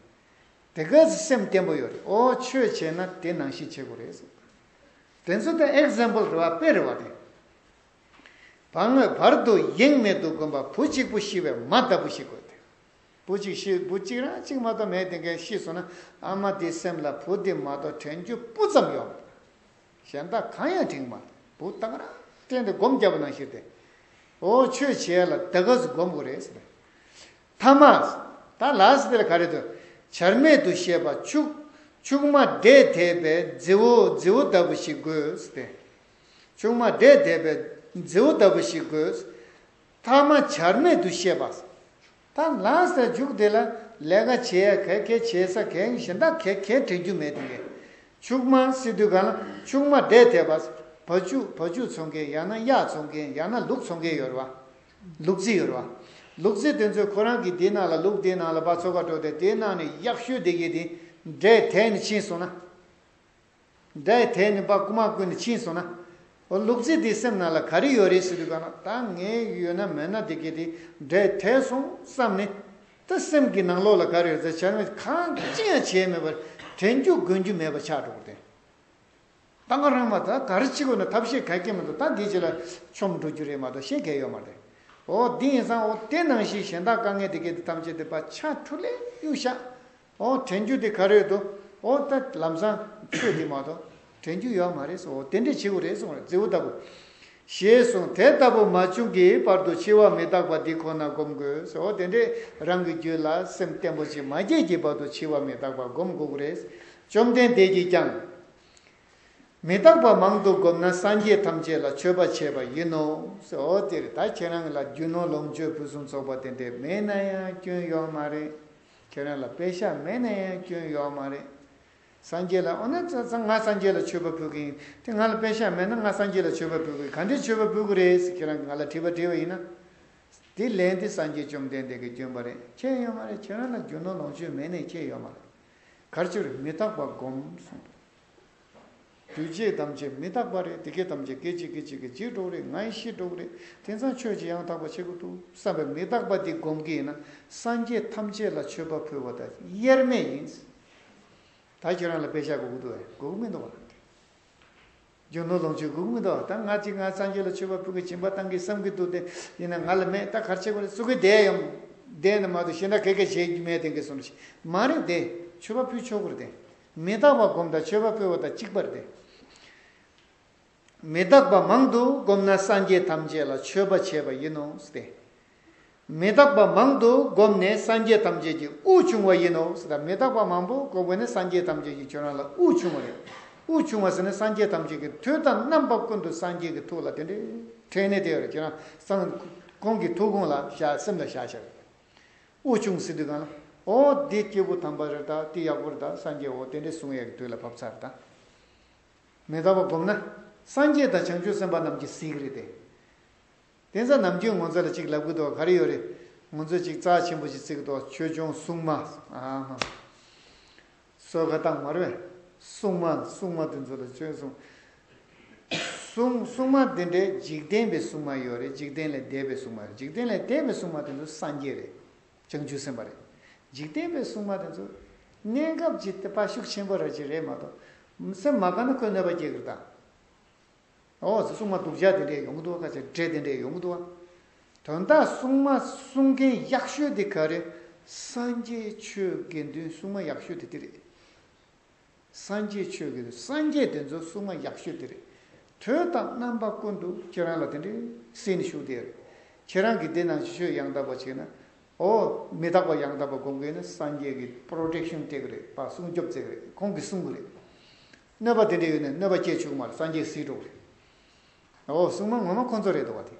དེ་ག་ཚོད་སེམས་བརྟན་པོ་ཡོད་རེད་འོ་ཆོས་བྱས་ན་དེ་ནང་བཞིན་བྱེད་དགོས་རེད་དེ་ཚོ་ད example རེད་བ་དཔེ་རེད་བ་དེ། བ་ངོས་བར་དུ་གཡེང་མེད་དུ་དགོན་པ་བུ་གཅིག་པུ་ཤི་བའི་མ་ལྟ་བུ་ཞིག་དགོས་དེ། བུ་གཅིག་ཤི་བུ་གཅིག་རང་གཅིག་མ་གཏོགས་མེད་དེ་འགའ་ཤི་སོང་ན་ཨ་མ་དེའི་སེམས་ལ་བུ་དེ་མ་གཏོགས་དྲན་རྒྱུ་སྤུ་ཙམ་ཡོད་མ་རེད། གཞན་དག་གང་ཡང་དྲན་གི་མ་རེད་བུ་བཏང་རང་བསྟན་ཏེ་སྒོམ་བརྒྱབ་པ་ནང་བཞིན་ཏེ། ཨོ་ཆོས་བྱས་ལ་ད་ག་ཟེ་སྒོམ་དགོས་རེད་ཟེར། མཐའ་མ། ད་ལགས་ཟེར་ཏེ་ག་རེ་དུ་བྱར་མེད་དུ་བཤད་པ་ཕྱུག་ཕྱུག་མ་བསྡད་དེས་པའི་རྫི་བོ་རྫི་བོ་ལྟ་བུ་ཞིག་དགོས་ཟེར་ཏེ། ཕྱུག་མ་བསྡད་དེས་པའི་རྫི་བོ་ལྟ་བུ་ཞིག་དགོས། ཐ་མ་བྱར་མེད་དུ་བཤད་པ། ད་ལྷག་ཟེར་འཇུག་དེ་ལ་ལས་ཀ་བྱེད་ཡ་གལ་གལ་བྱེད་ས་གལ་གཞན་དག་གལ་གལ་དྲན་རྒྱུ་མེད་དུ་ཡལ། ཕྱུགས་མ་སྲིད་དུས་གང་ལ་ཕྱུགས་མ་འདྲེས་དེ་བ། བ་ཕྱུགས་བ་ཕྱུགས་འཚོང་མཁན་ཡང་ན་གཡག་འཚོང་མཁན་ཡང་ན་ལུག་འཚོང་མཁན་ཡོད་རེད་བ། ལུག་རྫི་ཡོད་རེད་བ། ལུག་རྫི་དེ་ཚོས་ཁོ་རང་གིས་དེའི་ནང་ལ་ལུག་དེའི་ནང་ལ་བ་འཚོ་ག་འགྲོ་སྟེ་དེའི་ནང་ནས་གཡག་ཤོད་དེ་གཡས་དེ་འདྲས་དེད་ནས་ཕྱིན་སོང་ན། སྒྲའི་དེ་ནི་པ་སྐུ་མ་ཀུན་ནས་ཕྱིན་སོང་ན། འོ་ལུག་རྫི་འདིའི་སེམས་ནང་ལ་ག་རེ་ཡོད་རེད་ཟེར་དུས་ག་ན་ད་ངའི་ཡོད་ན་མེད་ན་དེ་གས་དེ་སྒྲའི་དེ་སོང་བསམ་ནས། ད་སེམས་ཀྱི་ནང་ལོགས་ལ་ག་རེ་ཡོད་ཟེར་བྱ་ངན་གང་ཅི་ཡང་བྱས་མེད་པར་དྲན་རྒྱུ་དགོན་རྒྱུ་མེད་པར་ཆགས་འགྲོ་བ་དེ། ད་ང་རང་མ་ད་ག་རེ་བྱེད་དགོས་ན་ཐབས་ཤེས་ག་གེ་མི་འདུག་ད་འདི་བྱས་ལ་ཆོམ་འགྲོ་རྒྱུ་རེད་མ་གཏོགས་ཤེས་ག་ཡོད་མ་རེད། འོ་དེ་ཡིན་ཙང་འོ་དེ་ནང་བཞིན་གཞན་དག་དཀའ་ངལ་དེ་གས་དེ་ཐམས་ཅད་དེ་པ་ཆགས་འཁྲུ་ལས་གཡུག་ཤག་ཨོ་དྲན་རྒྱུ་དེ་ག་རེད་དོ། ཨོ་ད་ལམ་སང་ཆོས་དེ་མ་གཏོགས་དྲན་རྒྱུ་ཡོད་མ་རེད་ཟེར་བ་དེ་འདྲས་བྱེད་དགོས་རེད་གསུངས་རེད་རྫི་བོ་ལྟ་བུ། ཞེས་གསུངས་དེ་ལྟ་བུ་མ་བྱུང་གི་བར་དུ་འཆི་བ་མི་རྟག་པ་འདི་ཁོ་ན་སྒོམ་དགོས་ཟེར་བ་དེ་འདྲས་རང་གི་རྒྱུད་ལ་སེམས་བརྟན་པོ་ཅིག་མ་སྐྱེས་ཀྱི་བར་དུ་འཆི་བ་མི་རྟག་པ་སྒོམ་དགོས་ཀྱི་རེད། བཅོམ་ལྡན་འདས་ཀྱིས་ཀྱང། མི་རྟག་པ་མང་དུ་བསྒོམས་ན་སངས་རྒྱས་ཐམས་ཅད་ལ་མཆོད་པ་བྱས་པ་ཡིན་ནོ་ཟེར་བ་དེར་ད་ཁྱེད་རང་ལ་རྒྱུ་ནོར་ལོངས་སྤྱོད་ཕུན་སུམ་ཚོགས་པ་དེ་འདྲས་མེད་ན་ཡང་སྐྱོན་ཡོད་མ་རེད། ཁྱེད་རང་ལ་དཔེ་ཞག་མེད་ན་ཡང་སྐྱོན་ཡོག་མ་རེད། སངས་རྒྱས་ལ་འོ་ན་ང་སངས་རྒྱས་ལ་མཆོད་པ་འབུལ་གི་ཡིན་དེ་ང་ལ་དཔེ་ཞག་མེད་ན་ང་སངས་རྒྱས་ལ་མཆོད་པ་འབུལ་གི་ག་འདྲའི་མཆོད་པ་འབུལ་གི་རེད་ཟེར་ཁྱེད་རང་གི་ང་ལ་དྲི་བ་འདྲི་བ་ཡིན་ན། དེ་ལན་དེ་སངས་རྒྱས་བཅོམ་ལྡན་འདས་ཀྱི་སྐྱོན་པ་རེད་ཁྱེད་ཡོག་མ་རེད་ཁྱེད་རང་ལ་རྒྱུ་ནོར་ལོངས་སྤྱོད་མེད་ནས་ཁྱེད་ཡོག་མ་རེད། གར་ཆུར་མི་ཐག་པ་སྒོམ་གསུངས། འདུས་བྱས་ཐམས་ཅད་མི་རྟག་པ་རེད་དེ་སྐད་ཐམས་ཅད་སྐད་ཅིག་སྐད་ཅིག་གིས་འཇིག་འགྲོ་རེད་ང་ཡི་ཤི་འགྲོ་གི་རེད་དེང་སང་ཆོས་ཀྱི་ཡང་དག་པ་བྱེད་དགོས་འདུག་བསམ་པའི་མི་རྟག་པ་འདི་སྒོམ་གི་ཡིན་ན་སངས་རྒྱས་ཐམས་ཅད་ལ་མཆོད་པ་ཕུལ་བ་དང་དབྱེར་མེད་ཡིན། ད་ཁྱོད་རང་ལ་དཔེ་ཆ་དགོས་ཀྱི་འདུག་བས་དགོས་ཀྱི་མི་འདུག་བ་དང། རྒྱུ་ནོར་ལོངས་སྤྱོད་དགོས་ཀྱི་མི་འདུག་བ་དང་ང་ཅིག་ང་སངས་རྒྱས་ལ་མཆོད་པ་ཕུལ་གི་སྦྱིན་པ་བཏང་གི་བསམ་གྱི་འདུག་དེ་ཡིན་ན་ང་ལ་མེད་ད་གར་བྱེད་དགོས་རེད་གསོལ་གི་བསྡད་ཡོང། བསྡད་ནས་མ་འདུག་ཤི་ན་གས་གས་བྱེད་ཀྱི་མེད་དེང་གི་སོང་ཤི་མ་རེད་དེ་མཆོད་པ་ཕུལ་ཆོག་གི་རེད་དེ། མི་རྟག་པ་བསྒོམ་དང་མཆོད་པ་ཕུལ་བ་དང་གཅིག་པར་ཏེ། མི་རྟག་པ་མང་དུ་བསྒོམ་ན་སངས་རྒྱས་ཐམས་ཅད་ལ་མཆོད་པ་བྱས་པ་ཡིན་ནོ་སྟེ། མི་རྟག་པ་མང་དུ་བསྒོམས་ནས་སངས་རྒྱས་ཐམས་ཅད་ཀྱི་དབུགས་ཕྱུང་བ་ཡིན་ནོ་ཟེར། མི་རྟག་པ་མང་པོ་བསྒོམས་པས་ནི་སངས་རྒྱས་ཐམས་ཅད་ཀྱི་ཁྱོད་རང་ལ་དབུགས་ཕྱུང་བ་རེད། དབུགས་ཕྱུང་བ་ཟེར་ནས་སངས་རྒྱས་ཐམས་ཅད་ཀྱི་ཐུགས་དང་རྣམ་པ་ཀུན་ཏུ་སངས་རྒྱས་ཀྱི་ཐུགས་ལ་དེ་འདྲའི་ཕྲེང་ནས་དེ་ཡོད་རེད་ཁྱོད་རང་སངས་ཁོང་གི་ཐུགས་དགོངས་ལ་བཞག་སེམས་ལ་བཞག་བྱ་རེད། དབུགས་ཕྱུང་སྲིད་དུས་གང། ཨོ། འདི་སྐྱེས་བུ་དམ་པ་རེད་ད་འདི་ཡག་པོ་རེད་ད་སངས་རྒྱས་འོ་དེ་འདྲའི་གཟུངས་ཡག་གི་དུས་ལ་བབས་ཚར་ད། མེ་ད་པ་བསྒོམས་ན། སངས་རྒྱས་དང་བྱང་ཆུབ་སེམས་དཔའ་རྣམས་ཀྱི་གཟིགས་རེད་དེ། དེ་ཚ་ནམ་རྒྱུན་ངོ་ཚ་ལ་ཅིག་ལབ་གི་འདུག་ག་རེ་ཡོད་རེད། ངོ་ཚོས་ཅིག་རྩ་ཆེན་པོ་ཞིག་བརྩིག་གི་འདུག་ཆོས་འབྱུང་སྲུང་མ། སོ་ག་དང་མར་བས་སྲུང་མ་སྲུང་མ་དེ་ཚོ་ལ་ཆོས་གསུངས། སྲུང་སྲུང་མ་དེ་འདྲའི་འཇིག་རྟེན་པའི་སྲུང་མ་ཡོད་རེད་འཇིག་རྟེན་ལས་འདས་པའི་སྲུང་མ་རེད་འཇིག་རྟེན་ལས་འདས་པའི་སྲུང་མ་དེ་ཚོ་སངས་རྒྱས་རེད། བྱང་ཆུབ་སེམས་དཔའ་རེད། འཇིག་རྟེན་པའི་སྲུང་མ་དེ་ཚོ། གནས་སྐབས་ཀྱི་དཔའ་ཤུགས་ཆེན་པོ་རེད་ཅེས་རེད་མ་གཏོགས། སེམས་མ་དགའ་ན་ཁོས་གནོད་པ་སྐྱེལ་གི་རེད་ད། ཨོ་ཟེར་སྲུང་མ་དུག་བྱ་དེ་འདྲས་ཡོང་གི་འདུག་བ་ཁ་ཟེར་འདྲས་དེ་འདྲས་ཡོང་གི་འདུག་བ། དོན་དག་སྲུང་མ་སྲུང་མཁན་ཡག་ཤོས་དེ་ག་རེད། སངས་རྒྱས་ཆོས་དགེ་འདུན་སྲུང་མ་ཡག་ཤོས་དེ་དེ་རེད། སངས་རྒྱས་ཆོས་དགེ་འདུན་སངས་རྒྱས་དེ་ཚོ་སྲུང་མ་ཡག་ཤོས་དེ་རེད། དོན་དག་རྣམ་པ་ཀུན་ཏུ་ཁྱེད་རང་ལ་དེ་འདྲས་སེམས་ནི་ཞུགས་བསྡད་རེད། ཁྱེད་རང་གིས་འདི་ནང་ཆོས་ཡང་དག་པ་བྱས་ན། ཨོ་མི་དག་པ་ཡང་དག་པ་དགོངས་མཁན་ནི་སངས་རྒྱས་ཀྱི Protection སྤྲད་གི་རེད་བ་སྲུང་སྐྱོབ་བྱེད་གི་རེད་ཁོང་གིས་སྲུང་གི་རེད། གནོད་པ་དེ་འདྲའི་ཡོད་ནས་གནོད་པ་སྐྱེས་བཅུག་མར་སངས་རྒྱས་སྲིད་གྲོགས་རེད། འོ་སྲུང་མ་ངོ་མ་ཁོ་ཚོ་རེད་བ་དེ།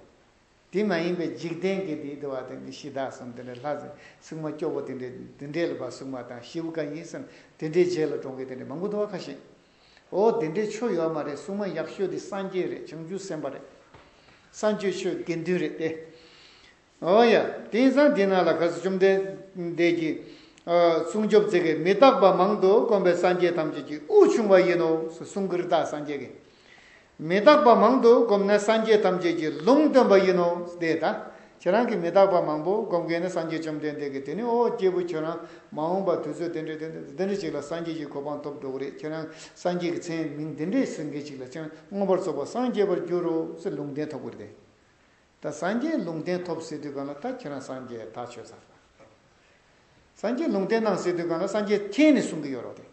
དེ་མ་ཡིན་པའི་འཇིག་རྟེན་གྱི་དེ་དེ་བ་དེ་འདྲའི་གཞི་བདག་གསུམ་དེ་འདྲའི་ལྷ་ཟེར་སྲུང་མ་སྐྱོ་བོ་དེ་འདྲའི་དེ་འདྲའི་ལ་བ་སྲུང་མ་དང་ཤེའུ་ག་ཡིན་བསམ་དེ་འདྲའི་རྗེས་ལ་འབྲོང་གི་དེ་འདྲའི་མང་པོ་འདུག་བ་ཁ་ཤས། འོ་དེ་འདྲའི་ཆོ་ཡོད་མ་རེད་སྲུང་མ་ཡག་ཤོས་དེ་སངས་རྒྱས་རེད་བྱང་ཆུབ་སེམས་དཔའ་རེད། སངས་རྒྱས་ཆོས་དགེ་འདུན་རེད་དེ། ཨོ་ཡ། དེང་སང་འདི་ན་ལ་ག་སྲིད་བཅོམ་ལྡན་འདས་ཀྱི། གསུང་ཆོབ་ཚིག་གིས་མི་རྟག་པ་མང་དུ་དཀོན་པའི་སངས་རྒྱས་ཐམས་ཅད་ཀྱི་དབུས་བྱུང་བ་ཡིན་ནོ་ཞེས་གསུང་གིར་བདག་སངས་རྒྱས་ཀྱི། མི་རྟག་པ་མང་དུ་བསྒོམས་ནས་སངས་རྒྱས་ཐམས་ཅད་ཀྱི་ལུང་སྟོན་པ་ཡིན་ནོ་ཞེས་དེ་ལྟ་ཁྱེད་རང་གིས་མི་རྟག་པ་མང་པོ་བསྒོམ་མཁན་ནི་སངས་རྒྱས་བཅོམ་ལྡན་འདས་ཀྱི་དེ་ནས་ཨོ་སྐྱེས་བུ་ཁྱོད་རང་མ་འོངས་པ་དུས་ཚོད་དེ་འདྲ་དེ་འདྲ་དེ་འདྲ་ཞིག་ལ་སངས་རྒྱས་ཀྱི་གོ་འཕང་ཐོབ་འགྲོ་གི་རེད་ཁྱེད་རང་སངས་རྒྱས་ཀྱི་མཚན་མིང་འདི་འདྲས་ཟེར་མཁན་ཞིག་ལ་ཁྱེད་རང་མངོན་པར་རྫོགས་པར་སངས་རྒྱས་པར་འགྱུར་རོ་ཞེས་ལུང་བསྟན་ཐོབ་གིར་དེ། ད་སངས་རྒྱས་ལུང་བསྟན་ཐོབ་ཟེར་དུས་གང་ལ་ད་ཁྱེད་རང་སངས་རྒྱས་ཐག་ཆོད་ཚར། སངས་རྒྱས་ལུང་བསྟན་གནང་ཟེར་དུས་གང་ལ་སངས་རྒྱས་ཁྱེད་ནི་གསུང་གི་ཡོད་རོགས་དེ།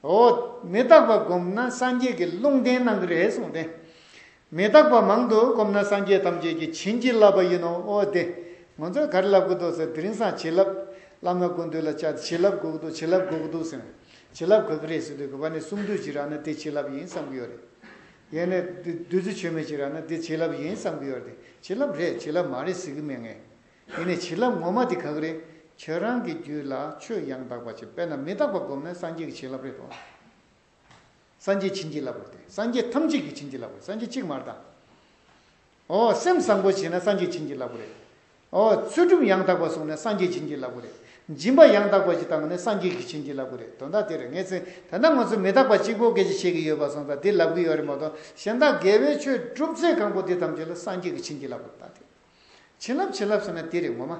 ཨོ། མི་རྟག་པ་བསྒོམས་ན་སངས་རྒྱས་ཀྱི་ལུང་བསྟན་གནང་གི་རེད་གསུངས་ཏེ། མི་རྟག་པ་མང་དུ་བསྒོམས་ན་སངས་རྒྱས་ཐམས་ཅད་ཀྱིས་བྱིན་གྱིས་བརླབས་པ་ཡིན་ནོ་ཨོ་དེ། ང་ཚོས་ག་རེ་ལབ་གི་འདུག་ཟེར་དེ་རིང་སངས་བྱིན་རླབས་བསླབ་ན་དགུན་དུས་ལ་བཅར་ཏེ་བྱིན་རླབས་དགོས་ཀྱི་འདུག་བྱིན་རླབས་དགོས་ཀྱི་འདུག་ཟེར་ན་བྱིན་རླབས་གོ་གི་རེད་ཟེར་དུས་གུས་པ་ནས་གསུང་དུས་ཇི་རག་ན་དེ་བྱིན་རླབས་ཡིན་བསམ་གྱི་ཡོད་རེད། ཡེ་ནས་བདུད་རྩི་ཆོས་མེད་ཅིག་རག་ན་འདི་བྱིན་རླབས་ཡིན་བསམ་གྱི་ཡོད་དེ་བྱིན་རླབས་རེད་བྱིན་རླབས་མ་རེད་ཟེར་གྱི་མེད་ངེས། ཡེ་ནས་བྱིན་རླབས་ངོ་མ་དེ་ག་གི་རེད་ཁྱོད་རང་གི་རྒྱུད་ལ་ཆོས་ཡང་དག་པ་ཅིག་དཔེར་ན་མི་རྟག་པ་བསྒོམས་ནས་སངས་རྒྱས་ཀྱི་བྱིན་རླབས་རེད་དོ། སངས་རྒྱས་བྱིན་གྱིས་བརླབས་དགོས་དེ་སངས་རྒྱས་ཐམས་ཅད་ཀྱི་བྱིན་གྱིས་བརླབས་དགོས་སངས་རྒྱས་གཅིག་མ་རེད་ད། ཨོ། སེམས་བཟང་པོ་བྱས་ན་སངས་རྒྱས་བྱིན་གྱིས་བརླབ་པོ་རེད། ཨོ། ཚུལ་ཁྲིམས་ཡང་དག་པ་བསྲུངས་ནས་སངས་རྒྱས་བྱིན་གྱིས་བརླབ་པོ་རེད། སྦྱིན་པ་ཡང་དག་པ་ཞིག་བཏང་ནས་སངས་རྒྱས་ཀྱིས་བྱིན་གྱིས་བརླབ་པོ་རེད་དོན་དག་དེ་རེད་ངས་ཚེ་འདི་འདྲ་ང་ཚོས་མི་རྟག་པ་གཅིག་པོ་སྐད་ཅིག་བཤད་ཀྱི་ཡོད་པ་སོང་ད་འདི་ལབ་ཀྱི་ཡོད་རེད་མ་གཏོགས་གཞན་དག་དགེ་བའི་ཆོས་སྒྲུབ་ཚེ་གང་པོ་འདི་ཐམས་ཅད་ལ་སངས་རྒྱས་ཀྱིས་བྱིན་གྱིས་བརླབ་པོ་རེད་ད་དེ། བྱིན་བརླབ་བྱིན་བརླབ་ཟེར་ན་དེ་རེད་ངོ་མ།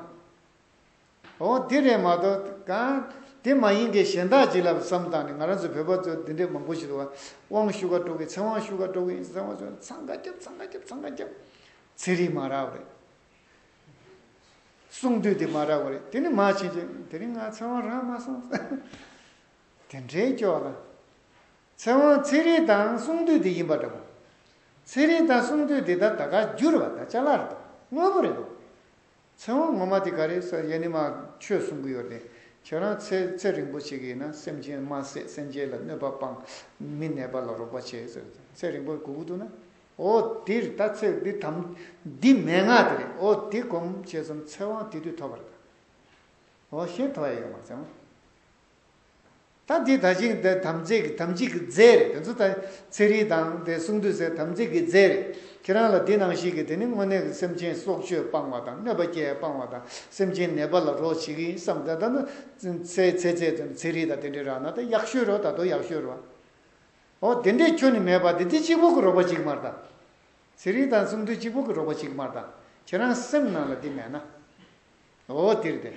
འོ་དེ་རེད་མ་གཏོགས་གང། དེ་མ་ཡིན་གྱི་གཞན་དག་ཅིག་ལབ་བསམ་དང་ནི་ང་རང་ཚོ་བོད་པ་ཚོ་འདི་འདྲའི་མང་པོ་ཞིག་འདུག་བ། དབང་བཤུ་ཁ་སྤྲོ་གི་ཚེ་དབང་བཤུ་ཁ་སྤྲོ་གི་ཡིན་ཚེ་དབང་བཤུ་འཚང་ཁ་རྒྱབ་འཚང་ཁ་རྒྱབ་འཚང་ཁ་རྒྱབ། ཚེ་རིང་མ་རག་རེད། གསུང་དུས་དེ་མ་རག་བ་རེད་དེ་ནི་མ་བྱིན་གྱིས་དེ་རིང་ང་ཚེ་དབང་རག་མ་སོང། དེ་འདྲའི་སྐྱོ་ལ། ཚེ་དབང་ཚེ་རིང་དང་གསུང་དུས་དེ་ཡིན་པ་འདྲ་པོ། ཚེ་རིང་དང་གསུང་དུས་དེ་ད་ད་ག་བསྒྱུར་བ་ད་ཅག་ལར་འདུག་དངོས་པོ་རེད་འདུག། ཚེ་དབང་ངོ་མ་དེ་ག་རེད་ཟེར་ཡས་ནི་མ་ཁྱོད་གསུང་གི་ཡོད་རེད་ཁྱོད་རང་ཚེ་ཚེ་རིང་པོ་བྱེད་གི་ཡིན་ན་སེམས་ཅན་དམར་ཟས་སེམས་ཅན་ལ་གནོད་པ་སྤང་མི་ནད་པ་ལ་རོགས་པ་བྱས་ཟེར་ཚེ་རིང་པོ་གུ་གུ་འདུག་ན་འོ་དེ་རེད་ད་ཚེ་འདི་དམ་འདི་མན་ངག་དེ་རེད་འོ་དེ་གོམས་བྱས་ཙང་ཚེ་དབང་དེ་དུས་ཐོབ་པ་རེད་ད་འོ་གཞན་ཐོབ་ཡས་ཡོད་མ་རེད་ཟེར་མོད། ད་འདི་ད་ཅིང་འདི་དམ་ཚིག་གི་དམ་ཚིག་གི་རྫས་རེད་དེ་ཚོ་ད་ཚེ་རིལ་དང་དེ་གསུང་འདུས་ཟེར་དམ་ཚིག་གི་རྫས་རེད་ཁྱེད་རང་ལ་འདི་ནང་བཞིན་གྱི་དེ་ནི་དངོས་གནས་ཀྱི་སེམས་ཅན་སྲོག་གཅོད་སྤང་བ་དང་གནོད་པ་སྐྱེལ་སྤང་བ་དང་སེམས་ཅན་ནད་པ་ལ་རོགས་བྱེད་ཀྱི་ཡིན་བསམ་དེ་ལྟ་ན་ཚེ་ཚེ་ཚེ་དེ་ཚེ་རིལ་དང་དེ་འདྲའི་རག་ན་ད་ཡག་ཤོས་རོགས་ད་དོ་ཡག་ཤོས་རོགས། ཨོ་དེ་འདྲའི་ཁྱོ་ནི་མེད་པ་དེ་འདི་གཅིག་པོ་གི་རོགས་པ་གཅིག་མར་ད་ཚེ་རིལ་དང་གསུང་འདུས་གཅིག་པོ་གི་རོགས་པ་གཅིག་མར་ད་ཁྱེད་རང་སེམས་ནང་ལ་འདི་མེད་ན། ཨོ་དིར་དེ།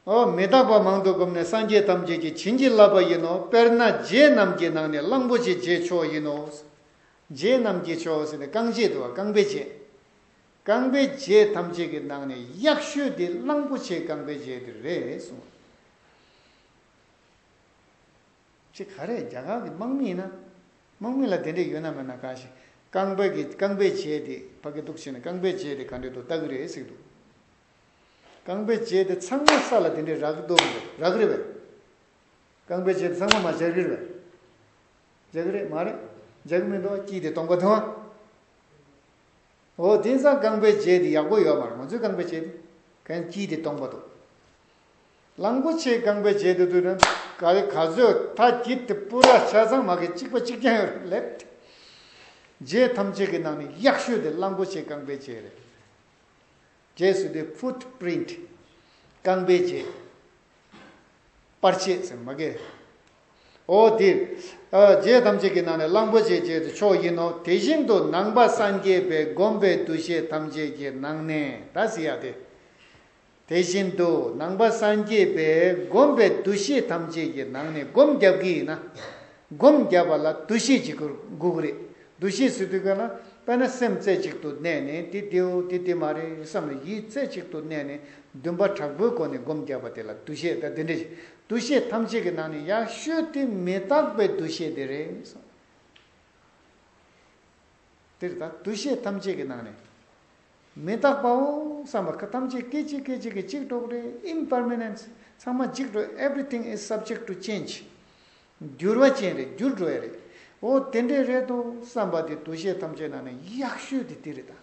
ཨོ། མི་རྟག་པ་མང་དུ་བསྒོམས་ནས་སངས་རྒྱས་ཐམས་ཅད་ཀྱིས་བྱིན་གྱིས་བརླབས་པ་ཡིན་ནོ། དཔེར་ན་རྗེས་རྣམས་ཀྱི་ནང་ནས་གླང་པོ་ཆེ་རྗེས་མཆོག་ཡིན་ནོ། རྗེས་རྣམས་ཀྱི་མཆོག་ཟེར་ནས་རྐང་རྗེས་འདུལ་བ་རྐང་པའི་རྗེས། རྐང་པའི་རྗེས་ཐམས་ཅད་ཀྱི་ནང་ནས་གཡག་ཤོད་འདི་གླང་པོ་ཆེའི་རྐང་པའི་རྗེས་འདི་རེད་གསུངས། ཅི་ག་རེ་རྒྱ་གར་གྱི་དམག་མི་ཡིན་ན་དམག་མི་ལ་དེ་འདྲས་ཡོད་ན་མེད་ན་གང་ཞིག་རྐང་པའི་རྐང་པའི་རྗེས་འདི་ཕ་གི་འདུག་བྱས་ནས་རྐང་པའི་རྗེས་འདི་ག་འདྲས་འདུག་ལྟ་གི་རེད་ཟེར་གི་འདུག། རྐང་པའི་རྗེས་དེ་ཚང་མ་ས་ལ་དེ་འདྲའི་རག་རྡོ་རེད་རག་རེད་བས། རྐང་པའི་རྗེས་དེ་ཚང་མ་མ་འཇག་རེད་བས། འཇག་རེད་མ་རེད་འཇག་མི་འདུག་སྐྱིད་དེ་སྟོང་པ་དང། འོ་དེང་སང་རྐང་པའི་རྗེས་དེ་ཡག་པོ་ཡོད་མ་རེད་ང་ཚོའི་རྐང་པའི་རྗེས་དེ། གན་སྐྱིད་དེ་སྟོང་པ་དང། གླང་པོ་ཆེའི་རྐང་པའི་རྗེས་དེ་དུས་ནས་ག་ལེ་ག་ཟོས་ད་སྐྱིད་དེ་སྤུ་ར་ཆ་ཚང་མ་གི་གཅིག་པ་གཅིག་ཀྱང་ཡོད་རེད་བས། རྗེས་ཐམས་ཅད་ཀྱི་ནང་ནས་ཡག་ཤོས་དེ་གླང་པོ་ཆེའི་རྐང་པའི་རྗེས་རེད། རྗེས་སུ་དེ་ཕུད Print། རྐང་པའི་རྗེས། པར་ཆས་སེམས་མ་གས། ཨོ་འདིར། རྗེས་ཐམས་ཅད་ཀྱི་ནང་ནས་གླང་པོ་ཆེའི་རྗེས་དེ་མཆོག་ཡིན་ནོ་དེ་བཞིན་དུ་ནང་པ་སངས་རྒྱས་པའི་བསྒོམ་པའི་འདུ་ཤེས་ཐམས་ཅད་ཀྱི་ནང་ནས་ད་སི་ཡ་དེ། དེ་བཞིན་དུ་ནང་པ་སངས་རྒྱས་པའི་བསྒོམ་པའི་འདུ་ཤེས་ཐམས་ཅད་ཀྱི་ནང་ནས་སྒོམ་རྒྱབ་ཀྱི་ཡིན་ན། སྒོམ་བརྒྱབ་པ་ལ་འདུ་ཤེས་ཀྱི་འགུག་རེད། འདུ་ཤེས་སུ་དུས་ག་ན་པ་ན་སེམས་རྩེ་གཅིག་ཏུ་གནས་ནས་དེ་དེའོ་དེ་དེ་མ་རེད་བསམ་ལ་ཡིད་རྩེ་གཅིག་ཏུ་གནས་ནས་འདུན་པ་དྲག་པོའི་སྒོ་ནས་སྒོམ་བརྒྱབ་པ་དེ་ལ་འདུ་ཤེས་ད་དེ་འདྲ་ཞིག་འདུ་ཤེས་ཐམས་ཅད་ཀྱི་ནང་ནས་ཡག་ཤོས་དེ་མི་རྟག་པའི་འདུ་ཤེས་དེ་རེད་བསམ། འདིར་ད་འདུ་ཤེས་ཐམས་ཅད་ཀྱི་ནང་ནས་མི་རྟག་པའོ་བསམ་པ་ཁ་ཐམས་ཅད་སྐད་ཅིག་སྐད་ཅིག་གིས་གཅིག་གྲོགས་རེད Impermanence ཚང་མ་འཇིག་འགྲོ Everything is subject to change འགྱུར་བ་ཅན་རེད་འགྱུར་འགྲོ་ཡ་རེད། འོ་དེ་འདྲས་རེད་དོ་བསམ་པ་དེ་འདུ་ཤེས་ཐམས་ཅད་ནང་ནས་ཡག་ཤོས་དེ་དེ་རེད་ད།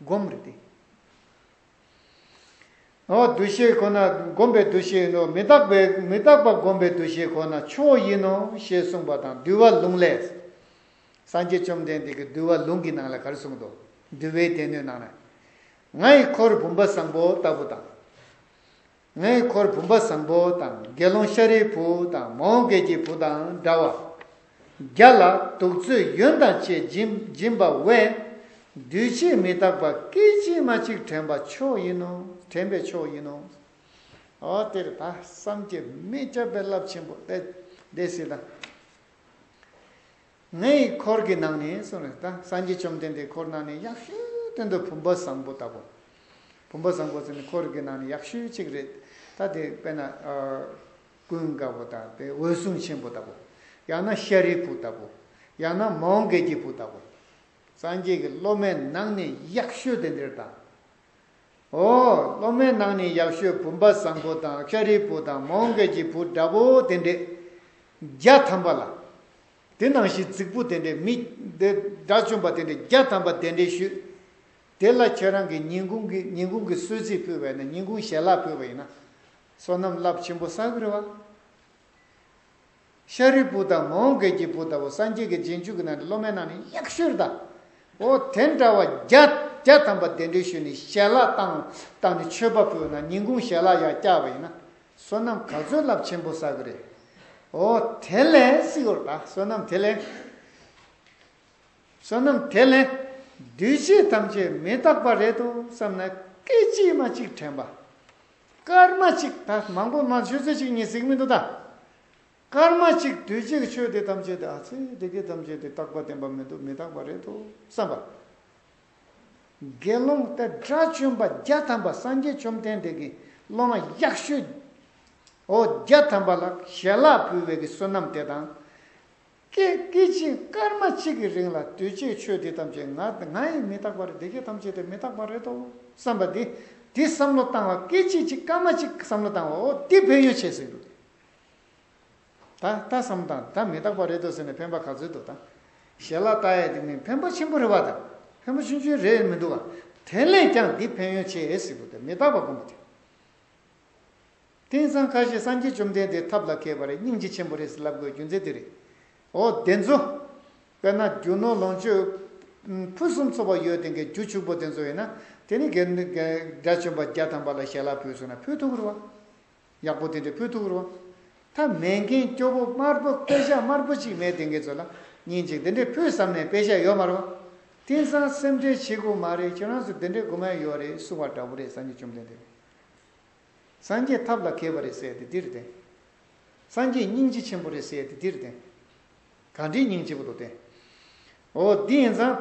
སྒོམ་རེད་དེ། འོ་འདུ་ཤེས་ཁོ་ན་སྒོམ་པའི་འདུ་ཤེས་ཡིན་ནོ་མི་རྟག་པའི་མི་རྟག་པ་སྒོམ་པའི་འདུ་ཤེས་ཁོ་ན་ཆོས་ཡིན་ནོ་ཞེས་གསུངས་པ་དང་འདུལ་བ་ལུང་ལས། སངས་རྒྱས་བཅོམ་ལྡན་འདས་ཀྱིས་འདུལ་བ་ལུང་གི་ནང་ལ་གར་གསུངས་ཏོ། འདུལ་བའི་སྡེ་སྣོད་ནང་ན། ང་ཡི་འཁོར་བུམ་པ་བཟང་པོ་ལྟ་བུ་དང། ངའི་འཁོར་བུམ་པ་བཟང་པོ་དང་དགེ་སློང་ཤཱ་རིའི་བུ་དང་མོའུ་འགལ་གྱི་བུ་དང་འདྲ་བ། བརྒྱ་ལ་གདུགས་ཚོད་ཡུན་དང་བཅས་སྦྱིན་པ་བས། འདུས་བྱས་མི་རྟག་པ་སྐད་ཅིག་མ་གཅིག་དྲན་པ་མཆོག་ཡིན་ནོ། དྲན་པའི་མཆོག་ཡིན་ནོ། འོ་དེར་ད་བསམ་གྱིས་མི་ཁྱབ་པའི་རླབས་ཆེན་པོ་ཨེ་བདེ་སྲིད་དང། ངའི་འཁོར་གྱི་ནང་ནས་སོང་རེད་ད། སངས་རྒྱས་བཅོམ་ལྡན་འདས་འཁོར་ནང་ནས་ཡག་ཤོས་དོན་དུ་བུམ་པ་བཟང་པོ་ལྟ་བུ། བུམ་པ་བཟང་པོ་ཟེར་ནས་འཁོར་གྱི་ནང་ནས་ཡག་ཤོས་གཅིག་རེད་ད་དེ་དཔེར་ན། ཀུན་དགའ་བོ་དང་དེ་འོད་སྲུང་ཆེན་པོ་ལྟ་བུ། ཡང་ན་ཤཱ་རིའི་བུ་ལྟ་བུ། ཡང་ན་མོའོ་འགལ་གྱི་བུ་ལྟ་བུ། སངས་རྒྱས་ཀྱི་སློབ་མའི་ནང་ནས་ཡག་ཤོས་དེ་འདིར་ད། ཨོ། སློབ་མའི་ནང་ནས་ཡག་ཤོས་བུམ་པ་བཟང་པོ་དང་ཤཱ་རིའི་བུ་དང་མོའུ་འགལ་གྱི་བུ་འདྲ་པོ་དེ་འདྲས། བརྒྱ་ཐམ་པ་ལ། དེ་ནང་བཞིན་རྫིག་པོ་དེ་འདྲས་མི། དགྲ་བཅོམ་པ་དེ་འདྲས་བརྒྱ་ཐམ་པ་དེ་འདྲས་ཞུས། དེ་ལ་ཁྱེད་རང་གིས་ཉིན་གུང་གི་ཉིན་གུང་གི་གསོལ་ཚིགས་ཕུལ་བས་ན་ཉིན་གུང་ཞལ་ལག་ཕུལ་བ་ཡིན་ན། བསོད་ནམས་རླབས་ཆེན་པོ་བསགས་གི་རེད་བ། ཤཱ་རིའི་བུ་དག་མོའོ་མགལ་གྱི་བུ་དག་གོ་སངས་རྒྱས་ཀྱི་རྗེས་འཇུག་གི་ནང་དུ་སློབ་མའི་ནང་ནས་གཡག་ཤུར་དང། འོ་དེ་འདྲ་བ་བརྒྱ་བརྒྱ་ཐམ་པ་བདེ་འགྲོའི་ཤུལ་ནས་ཞལ་ལག་བཏང་བཏང་ནས་མཆོད་པ་ཕུལ་བ་ན་ཉིན་གུང་ཞལ་ལག་ཡར་བཀྱག་པ་ཡིན་ན་བསོད་ནམས་ག་ཚོད་རླབས་ཆེན་པོ་བསགས་ཀྱི་རེད། འོ་དེ་ལན་སྲིད་འོ་ད་བསོད་ནམས་དེ་ལན། བསོད་ནམས་དེ་ལན། འདུས་བྱས་ཐམས་ཅད་མི་རྟག་པ་རེད་དོ་བསམས་ན་སྐད་ཅིག་མ་གཅིག་དྲན་པ། སྐར་མ་གཅིག་ད་མང་པོ་མང་ཆོས་ཚོད་གཅིག་གཉིས་གཟིགས་མི་འདུག་ད། སྐར་མ་གཅིག་དུས་གཅིག་ཆོས་དེ་ཐམས་ཅད་དེ་ཨ་ཚེ་དེ་གའི་ཐམས་ཅད་དེ་རྟག་པ་བདེན་པ་མི་འདུག་མི་རྟག་པ་རེད་དོ་བསམ་པ། དགེ་སློང་སྟེ་དགྲ་བཅོམ་པ་བརྒྱ་ཐམ་པ་སངས་རྒྱས་བཅོམ་ལྡན་འདས་ཀྱི་སློབ་མ་གཡག་ཞུའོ་བརྒྱ་ཐམ་པ་ལ་ཞལ་ལག་ཕུལ་བས་ཀྱི་བསོད་ནམས་དེ་དང། ཀྱེ་སྐད་ཅིག་སྐར་མ་གཅིག་གི་རིང་ལ་གདུལ་བྱའི་ཆོས་འདི་ཐམས་ཅད་ང་ང་ཡིས་མི་རྟག་པ་རེད་དེ་ཁྱེད་ཐམས་ཅད་དེ་མི་རྟག་པ་རེད་དོ་བསམ་པ་འདི་འདི་བསམ་བློ་བཏང་བ་སྐད་ཅིག་གཅིག་སྐར་མ་གཅིག་བསམ་བློ་བཏང་བ་འོ་འདི་ཕན་ཡོན་བྱེད་ཟིན་འདུག་ད་ད་བསམ་བཏང་ད་མི་རྟག་པ་རེད་དོ་ཟེར་ནས་ཕན་པ་ག་ཚོད་འདུག་ད་ཞལ་ལག་བལྟ་ཡས་དེ་མིན་ཕན་པ་ཆེན་པོ་རེད་བ་དང་ཕན་པ་ཆུན་ཆུན་རེད་མི་འདུག་བ་དེ་ལས་ཀྱང་འདི་ཕན་ཡོན་བྱེད་ཨེ་སྲིད་པོ་དེ་མི་རྟག་པ་སྒོམ་པ་དེ། དེང་སང་ཁ་ཤས་སངས་རྒྱས་བཅོམ་ལྡན་འདས་ཐབས་ལ་མཁས་པ་རེད་སྙིང་རྗེ་ཆེན་པོ་རེད་ཟེར་ལབ་དགོས་རྒྱུ་མཚན་དེ་རེད། འོ་དེ་ཚོ། དཔེར་ན་རྒྱུ་ནོར་ལོངས་སྤྱོད། ཕུན་སུམ་ཚོགས་པ་ཡོད་དེ་གའི་རྒྱུ་ཕྱུག་པོ་དེ་ཚོ་ཡིན་ན། དེ་ནི་གའི། དགྲ་བཅོམ་པ་བརྒྱ་ཐམ་པ་ལ་ཞལ་ལག་ཕུལ་སོང་ན་ཕུལ་ཐུག་རུ་བ། ཡག་པོ་དེ་འདྲས་ཕུལ་ཐུག་རུ་བ། ཐ་མལ་མཁན་སྐྱོ་པོ་དམར་པོ་དཔེ་ཞག་དམར་པོ་ཅིག་མེད་དེ་གའི་ཚོ་ལ། ཉིན་ཅིག་དེ་འདྲས་ཕུལ་བསམ་ནས་དཔེ་ཞག་ཡོད་མ་རུ་བ། དེང་སང་སེམས་ཁྲལ་བྱེད་དགོས་མ་རེད་ཁྱོད་རང་ཚོ་དེ་འདྲས་དགོས་མ་ཡོད་རེད་གསུང་བ་འདྲ་བོ་རེད་སངས་རྒྱས་བཅོམ་ལྡན་འདས། སངས་རྒྱས་ཐབས་ལ་མཁས་པ་རེད་ཟེར་ཏེ་འདིར་བསྟན། སངས་རྒྱས་སྙིང་རྗེ་ཆེན་པོ་རེད་ཟེར་ཏེ་འདིར་བསྟན། ག་འདྲའི་སྙིང་རྗེ་པོ་དུ་བསྟན། འོ་འདི་ཡིན་ཙང།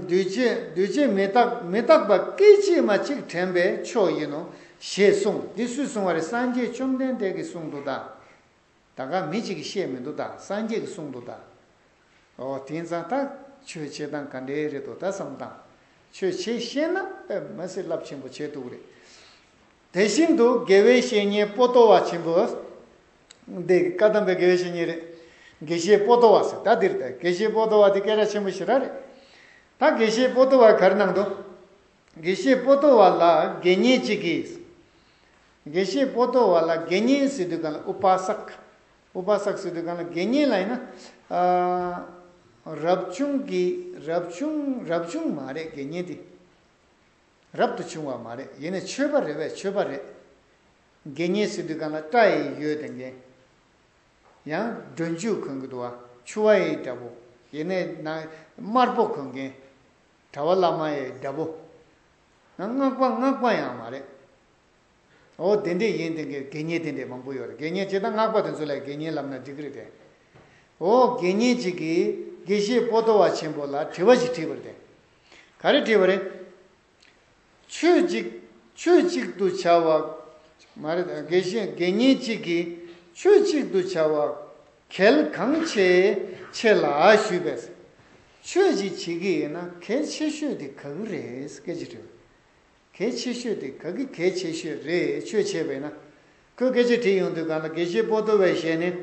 འདུས་བྱས་འདུས་བྱས་མི་རྟག་མི་རྟག་པ་སྐད་ཅིག་མ་གཅིག་དྲན་པའི་མཆོག་ཡིན་ནོ། ཞེས་གསུངས་འདི་སུས་གསུངས་བ་རེད་སངས་རྒྱས་བཅོམ་ལྡན་འདས་ཀྱིས་གསུངས་འདུག་གདའ། ད་ག་མི་གཅིག་གིས་བཤད་མི་འདུག་ད་སངས་རྒྱས་ཀྱིས་གསུངས་འདུག་ད། ཨོ་དེང་སང་ད་ཆོས་བྱེད་སྟངས་ག་འདྲའི་རེད་འདུག་ད་བསམ་དང། ཆོས་བྱེད་ཤེས་ན་ཨེ་མི་སྲིད་རླབས་ཆེན་པོ་བྱེད་འདུག་རེད། དེ་བཞིན་དུ་དགེ་བའི་བཤེས་གཉེན་སྤོ་ཏོ་བ་ཆེན་པོ། འདི་བཀའ་གདམས་པའི་དགེ་བའི་བཤེས་གཉེན་རེད། དགེ་བཤེས་སྤོ་ཏོ་བ་ཟེར་ད་འདིར་ད་དགེ་བཤེས་སྤོ་ཏོ་བ་དེ་སྐད་གྲགས་ཆེན་པོ་ཞིག་ར་རེད། ད་དགེ་བཤེས་སྤོ་ཏོ་བ་གར་སྣང་འདུག། དགེ་བཤེས་པོ་ཏོ་བ་ལ་དགེ་བསྙེན་གཅིག་གིས། དགེ་བཤེས་པོ་ཏོ་བ་ལ་དགེ་བསྙེན་སི་ཏུ་ཀ་ལ་ཨུ་པ་སཀ། ཨུ་པ་སཀ་སི་ཏུ་ཀ་ལ་དགེ་བསྙེན་ལ་ཡིན་ན། རབ་བྱུང་གི་རབ་བྱུང་རབ་བྱུང་མ་རེད་དགེ་བསྙེན་དེ། རབ་ཏུ་བྱུང་བ་མ་རེད་ཡིན་ན་ཆོས་པ་རེད་བས་ཆོས་པ་རེད། དགེ་བསྙེན་སི་ཏུ་ཀ་ལ་སྐྲ་ཡི་ཡོད་དེ་འགན། ཡང་སྒྲོན་ཆུ་གོན་གི་འདུག་བ་ཆུ་བ་ཡི་འདྲ་པོ་ཡིན་ན་ནང་དམར་པོ་གོན་འགན། གྲྭ་བ་བླ་མ་ཡི་དགྲ་བོ། སྔགས་པ་སྔགས་པ་ཡང་མ་རེད། འོ་དེ་འདྲས་ཡིན་དེ་གའི་དགེ་བསྙེན་དེ་འདྲས་མང་པོ་ཡོད་རེད་དགེ་བསྙེན་བྱས་ད་སྔགས་པ་དེ་ཚོ་ལ་དགེ་བསྙེན་ལབ་ན་འགྲིག་གི་རེད་དེ། འོ་དགེ་བསྙེན་ཅིག་གིས་དགེ་བཤེས་པོ་ཏོ་བ་ཆེན་པོ་ལ་དྲི་བ་ཞིག་དྲིས་པར་དེ་ག་རེ་དྲིས་པ་རེད། ཆོས་གཅིག་ཆོས་གཅིག་ཏུ་བྱ་བ། མ་རེད། དགེ་བཤེས་དགེ་བསྙེན་གཅིག་གིས་ཆོས་གཅིག་ཏུ་བྱ་བ། གལ་གང་ཆེ་ཆེ་ལ་ཞུས་པས། ཆོས་གཅིག་བྱེད་ཀྱི་ཡིན་ན་གལ་ཆེ་ཤོས་དེ་ག་གི་རེད་སྐད་ཅིག་དྲིས་པས། གལ་ཆེ་ཤོས་དེ་ག་གི་གལ་ཆེ་ཤོས་རེད་ཆོས་བྱེད་པས་ན། ཁོས་སྐད་ཆ་དྲིས་ཡོང་དུས་གང་ལྟར་དགེ་བཤེས་པོ་ཏོ་བའི་ཞལ་ནས།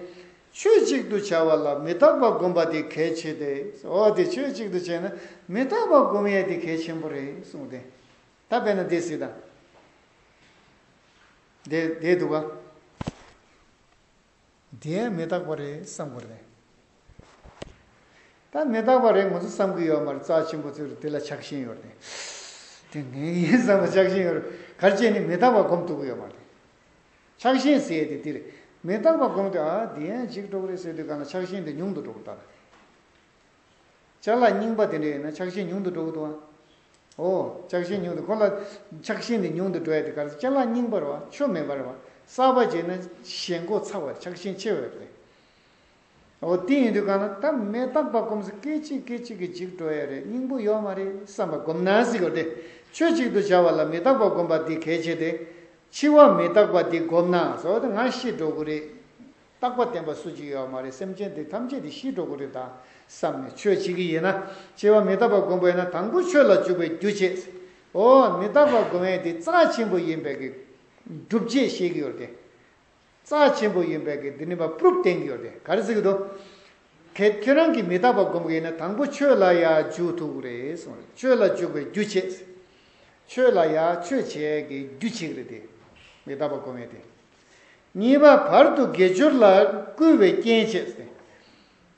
ཆོས་གཅིག་ཏུ་བྱ་བ་ལ་མི་རྟག་པ་སྒོམ་པ་དེ་གལ་ཆེ་སྟེ། འོ་དེ་ཆོས་གཅིག་ཏུ་བྱས་ན་མི་རྟག་པ་སྒོམ་ཡས་དེ་གལ་ཆེན་པོ་རེད་གསུངས་ཏེ། ད་དཔེར་ན་དེ་སྲིད་དང། དེ་དེ་འདུག་ག། དེ་ཡང་མི་རྟག་པ་རེད་བསམ་དགོས་རེད། ད་མི་རྟག་པ་རེད་ང་ཚོ་བསམ་གི་ཡོད་མ་རེད་རྩ་ཆེན་པོ་ཚོས་དེ་ལ་ཆགས་ཞེན་ཡོད་རེད། དེ་ངན་གྱི་ཡིན་བསམ་པ་ཆགས་ཞེན་ཡོད་རེད་གར་བྱས་ནས་མི་རྟག་པ་སྒོམ་ཐུབ་གི་ཡོད་མ་རེད། ཆགས་ཞེན་ཟེར་ཡས་དེ་དེ་རེད་མི་རྟག་པ་སྒོམ་དུས་ཨ་དེ་ཡང་གཅིག་གྲོགས་རེད་ཟེར་དུས་གང་ལ་ཆགས་ཞེན་དེ་ཉུང་དུ་འགྲོ་གི་རྟགས་རེད། ལྕགས་ལ་རྙིང་པ་དེ་འདྲ་ཡོད་ན་ཆགས་ཞེན་ཉུང་དུ་འགྲོ་གི་འདུག་ཨ། འོ། ཆགས་ཞེན་ཉུང་དུ་ཁོ་ལ། ཆགས་ཞེན་དེ་ཉུང་དུ་འགྲོ་ཡ་དེ་ག་རེ་ལྕགས་ལ་རྙིང་པར་བ་ཆོ་མེད་པར་བ་གསར་པ་བྱས་ན་ཞེན་མགོ་ཚ་བར་ཆགས་ཞེན་ཆེ་བས་རེད། འོ་དེ་ཡིན་དུས་གང་ན་ད་མེ་སྟག་པ་སྐོམ་ས་སྐད་ཅིག་སྐད་ཅིག་གིས་འཇིག་འགྲོ་ཡ་རེད་སྙིང་པོ་ཡོག་མ་རེད་བསམ་པ་སྒོམ་ན་གཟིགས་རོགས་དེ་ཆོས་གཅིག་ཏུ་བྱ་བ་ལ་མེ་སྟག་པ་སྒོམ་པ་འདི་གལ་ཆེ་སྟེ། འཆི་བ་མེ་སྟག་པ་འདི་སྒོམ་ན་ཟོ་དེ་ང་ཤི་འགྲོ་གི་རེད། རྟག་པ་བསྟན་པ་སུ་གཅིག་ཡོད་མ་རེད་སེམས་ཅན་དེ་ཐམས་ཅད་དེ་ཤི་འགྲོ་གི་རེད་ད་བསམ་ནས་ཆོས་བྱེད་གི་ཡིན་ན་སྐྱེ་བ་མི་རྟག་པ་སྒོམ་པ་ཡིན་ན་དང་པོ་ཆོས་ལ་འཇུག་པའི་རྒྱུ་བྱེད་འོ་མི་རྟག་པ་སྒོམ་ཡས་དེ་རྩ་ཆེན་པོ་ཡིན་པས་གི་སྒྲུབ་བྱེད་བཤད་གི་ཡོད་རེད་རྩ་ཆེན་པོ་ཡིན་པས་གི་དེ་ནི་བ་ཕུབ་བསྟན་གི་ཡོད་རེད་ག་རེ་ཟེར་གི་འདུག་གལ་ཁྱོད་རང་གི་མི་རྟག་པ་སྒོམ་གི་ཡིན་ན་དང་པོ་ཆོས་ལ་ཡ་འཇུག་ཐུབ་གི་རེད་གསུང་རེད་ཆོས་ལ་འཇུག་པའི་རྒྱུ་བྱེད་ཆོས་ལ་ཡ་ཆོས་བྱེད་གི་རྒྱུ་བྱེད་གི་རེད་དེ་མི་རྟག་པ་སྒོམ་ཡས་དེ། གཉིས་པ་བར་དུ་དགེ་སྦྱོར་ལ་བསྐུལ་བའི་རྐྱེན་བྱས་ཟིན།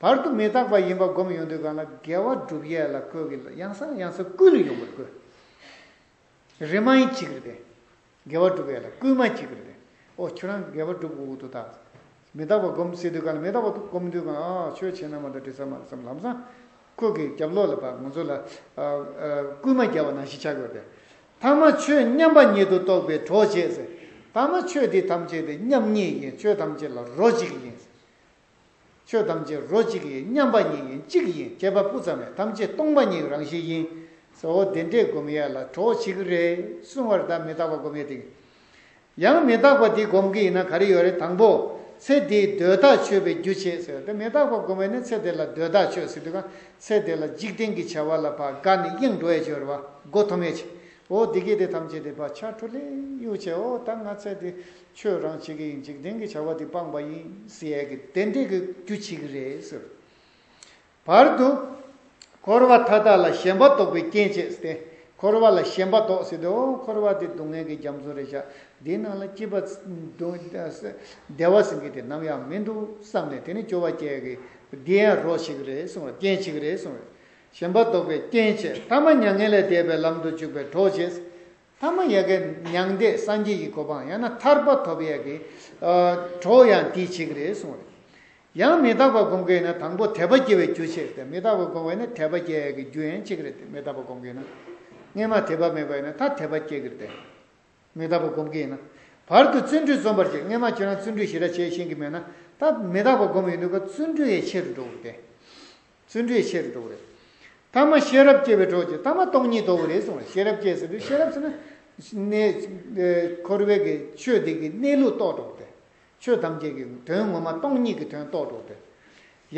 བར་དུ་མི་རྟག་པ་ཡིན་པ་བསྒོམ་ཡོང་དུས་གང་ལ་དགེ་བ་བསྒྲུབ་ཡས་ལ་བསྐོལ་གྱི་ལ་ཡང་སང་ཡང་སང་བསྐུལ་ལ་ཡོང་བར་བསྐོལ། རེ་མ་ཡིན་གཅིག་རེ་བདེ། དགེ་བ་བསྒྲུབ་ཡས་ལ་བསྐུལ་མ་གཅིག་རེ་བདེ། ཨོ་ཁྱོད་རང་དགེ་བ་བསྒྲུབ་དགོས་དུ་ད། མི་རྟག་པ་བསྒོམ་སྲིད་དུས་གང་ལ་མི་རྟག་པ་བསྒོམ་དུས་གང་ལ་ཨ་ཁྱོད་ཁྱེད་རྣམས་མ་དང་དྲི་ཟ་མ་དང་སམ་ལམ་སང། ཁོད་ཀྱི་རྒྱབ་ལོགས་ལ་བ་ང་ཚོ་ལ་བསྐུལ་མ་རྒྱབ་བ་ནང་བཞིན་བྱ་དགོས་པས། ཐ་མ་ཆོས་མཉམ་པ་ཉིད་དུ་རྟོགས་པའི་གྲོགས་བྱེད། ཐ་མ་ཆོས་འདི་ཐམས་ཅད་དུ་མཉམ་ཉིད་ཡིན་ཆོས་ཐམས་ཅད་ལ་རོ་གཅིག་ཡིན། ཆོས་ཐམས་ཅད་རོ་གཅིག་ཡིན་མཉམ་པ་ཉིད་ཡིན་གཅིག་ཡིན་སྐྱེས་པ་སྤུ་ཙམ་ཡང་ཐམས་ཅད་སྟོང་པ་ཉིད་རང་བཞིན་ཡིན། ཟོ་བོ་བདེན་བྲལ་སྒོམ་ཡས་ལ་གྲོགས་བྱེད་ཀྱི་རེད་གསུང་བར་བདག་མི་རྟག་པ་སྒོམ་ཡས་དེ། ཡང་མི་རྟག་པ་འདི་སྒོམ་གྱི་ཡིན་ན་ག་རེ་ཡོད་རེད་དང་པོ། ཚེ་འདིའི་གདོས་ཐག་ཆོད་པའི་རྒྱུ་བྱེད་ཟེར་དེ་མི་རྟག་པ་སྒོམ་བས་ནི་ཚེ་འདི་ལ་གདོས་ཐག་ཆོད་ཟེར་དུས་གང་ཚེ་འདི་ལ་འཇིག་རྟེན་གྱི་བྱ་བ་ལ་བ་ག་ནི་གཡེང་འགྲོ་བས་སྦྱོར་བ་སྒོ་ཐོ་མེད་ཅིང་འོ་བདེ་སྐྱིད་དེ་ཐམས་ཅད་དེ་བ་ཆ་འཁྲུལ་ལེ་གཡུག་བྱས་འོ་ད་ང་ཚེ་འདི་ཆོས་རང་བྱེད་ཀྱི་ཡིན་འཇིག་རྟེན་གྱི་བྱ་བ་འདི་སྤངས་པ་ཡིན་ཟེར་ཡས་ཀྱི་བདེ་འབྲས་ཀྱི་རྒྱུ་བྱེད་ཀྱི་རེད་ཟེར། བར་དུ། འཁོར་བ་མཐའ་དག་ལ་ཞེན་པ་བཟློག་པའི་རྐྱེན་བྱེད་ཟེར་ཏེ། འཁོར་བ་ལ་ཞེན་པ་བཟློག་ཟེར་ཏེ། འཁོར་བ་འདི་སྡུག་བསྔལ་གྱི་རྒྱ་མཚོ་རེད་བཞག་འདིའི་ནང་ལ་སྐྱིད་པ། བདེ་བ་ཟེར་མཁན་དེ་ནམ་ཡང་མི་འདུག་བསམ་ནས་དེ་ནི་སྐྱོ་བ་སྐྱེ་གི་བདེ་ཡང་རོ་ཞིག་རེད་གསུང་བ་རྐྱེན་ཞིག་རེད་གསུང་བས། ཞེན་པ་བཟློག་པའི་རྐྱེན་བྱེད་ཐ་མ་མྱ་ངན་ལས་འདས་པའི་ལམ་དུ་འཇུག་པའི་གྲོགས་བྱེད། ཐ་མ་ཡལ་གའི་མྱང་འདས་སངས་རྒྱས་ཀྱི་གོ་འཕང་ཡང་ན་ཐར་པ་ཐོབ་ཡལ་གའི་གྲོགས་ཡང་དེའི་ཆེད་རེད་གསུངས་རེད། ཡང་མི་རྟག་པ་སྒོམ་གྱི་ཡིན་ན་དང་པོ་དད་པ་སྐྱེ་བའི་རྒྱུ་ཆེད་རེད་མི་རྟག་པ་སྒོམ་བ་ཡིན་ན་དད་པ་སྐྱེ་ཡལ་གའི་རྒྱུ་ཡན་གཅིག་རེད་མི་རྟག་པ་སྒོམ་གྱི་ཡིན་ན། སྔས་མ་དད་པ་མེད་པ་ཡིན་ན་ད་དད་པ་སྐྱེ་གི་རེད། མི་རྟག་པ་སྒོམ་གྱི་ཡིན་ན། བར་དུ་བརྩོན་འགྲུས་རྩོམ་པར་བྱེད་སྔས་མ་ཁྱོད་རང་བརྩོན་འགྲུས་ཞེ་དྲག་བྱས་ཤེས་གི་མེད་ན་ད་མི་རྟག་པ་སྒོམ་ཡིན་འདུག་ག་བརྩོན་འགྲུས་ཡས་ཆེ་རུ་འགྲོ་གི་རེད། བརྩོན་འགྲུས་ཆེ་རུ་འགྲོ་བ་རེད། ཐ་མ་ཤེས་རབ་སྐྱེ་བའི་གྲོགས་ཀྱི་ཐ་མ་སྟོང་ཉིད་ལྟ་བུ་རེད་གསུངས་ལ་ཤེས་རབ་སྐྱེ་ཟེར་དུས་ཤེས་རབ་ཟེར་ན། འཁོར་བའི་གི་ཆོས་འདི་གི་གནས་ལུགས་རྟོགས་གྲོགས་ཏེ། ཆོས་ཐམས་ཅད་ཀྱི་དོན་ངོ་མ་སྟོང་ཉིད་ཀྱི་དོན་རྟོགས་གྲོགས་ཏེ།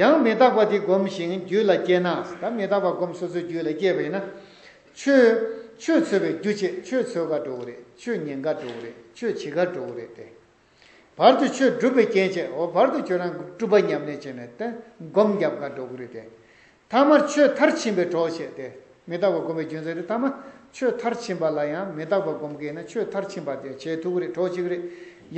ཡང་མི་རྟག་པ་དེ་བསྒོམ་ཞིང་རྒྱུད་ལ་སྐྱེས་ན། ད་མི་རྟག་པ་བསྒོམ་སོ་སོའི་རྒྱུད་ལ་སྐྱེས་པ་ཡིན་ན། ཆོས་ཆོས་ཚོལ་བའི་རྒྱུ་བྱེད་ཆོས་ཚོལ་གར་འགྲོ་བ་རེད་ཆོས་ཉན་གར་འགྲོ་བ་རེད་ཆོས་བྱེད་གར་འགྲོ་བ་རེད་དེ། བར་དུ་ཆོས་སྒྲུབ་པའི་རྐྱེན་བྱས་འོ་བར་དུ་ཁྱོད་རང་སྤྲུལ་པ་ཉམས་ལེན་བྱས་ནས་བསྒོམ་བརྒྱབ་དགའ་འགྲོ་གུ་རུ་དེ། ཐ་མར་ཆོས་མཐར་ཕྱིན་པའི་གྲོགས་བྱས་ཏེ། མི་རྟག་པར་བསྒོམ་པའི་རྒྱུ་མཚན་དེ་ཐ་མ་ཆོས་མཐར་ཕྱིན་པ་ལ་ཡང་མི་རྟག་པར་བསྒོམ་གི་ཡིན་ན་ཆོས་མཐར་ཕྱིན་པ་དེ་བྱེད་ཐུབ་གི་རེད་གྲོགས་བྱེད་གི་རེད།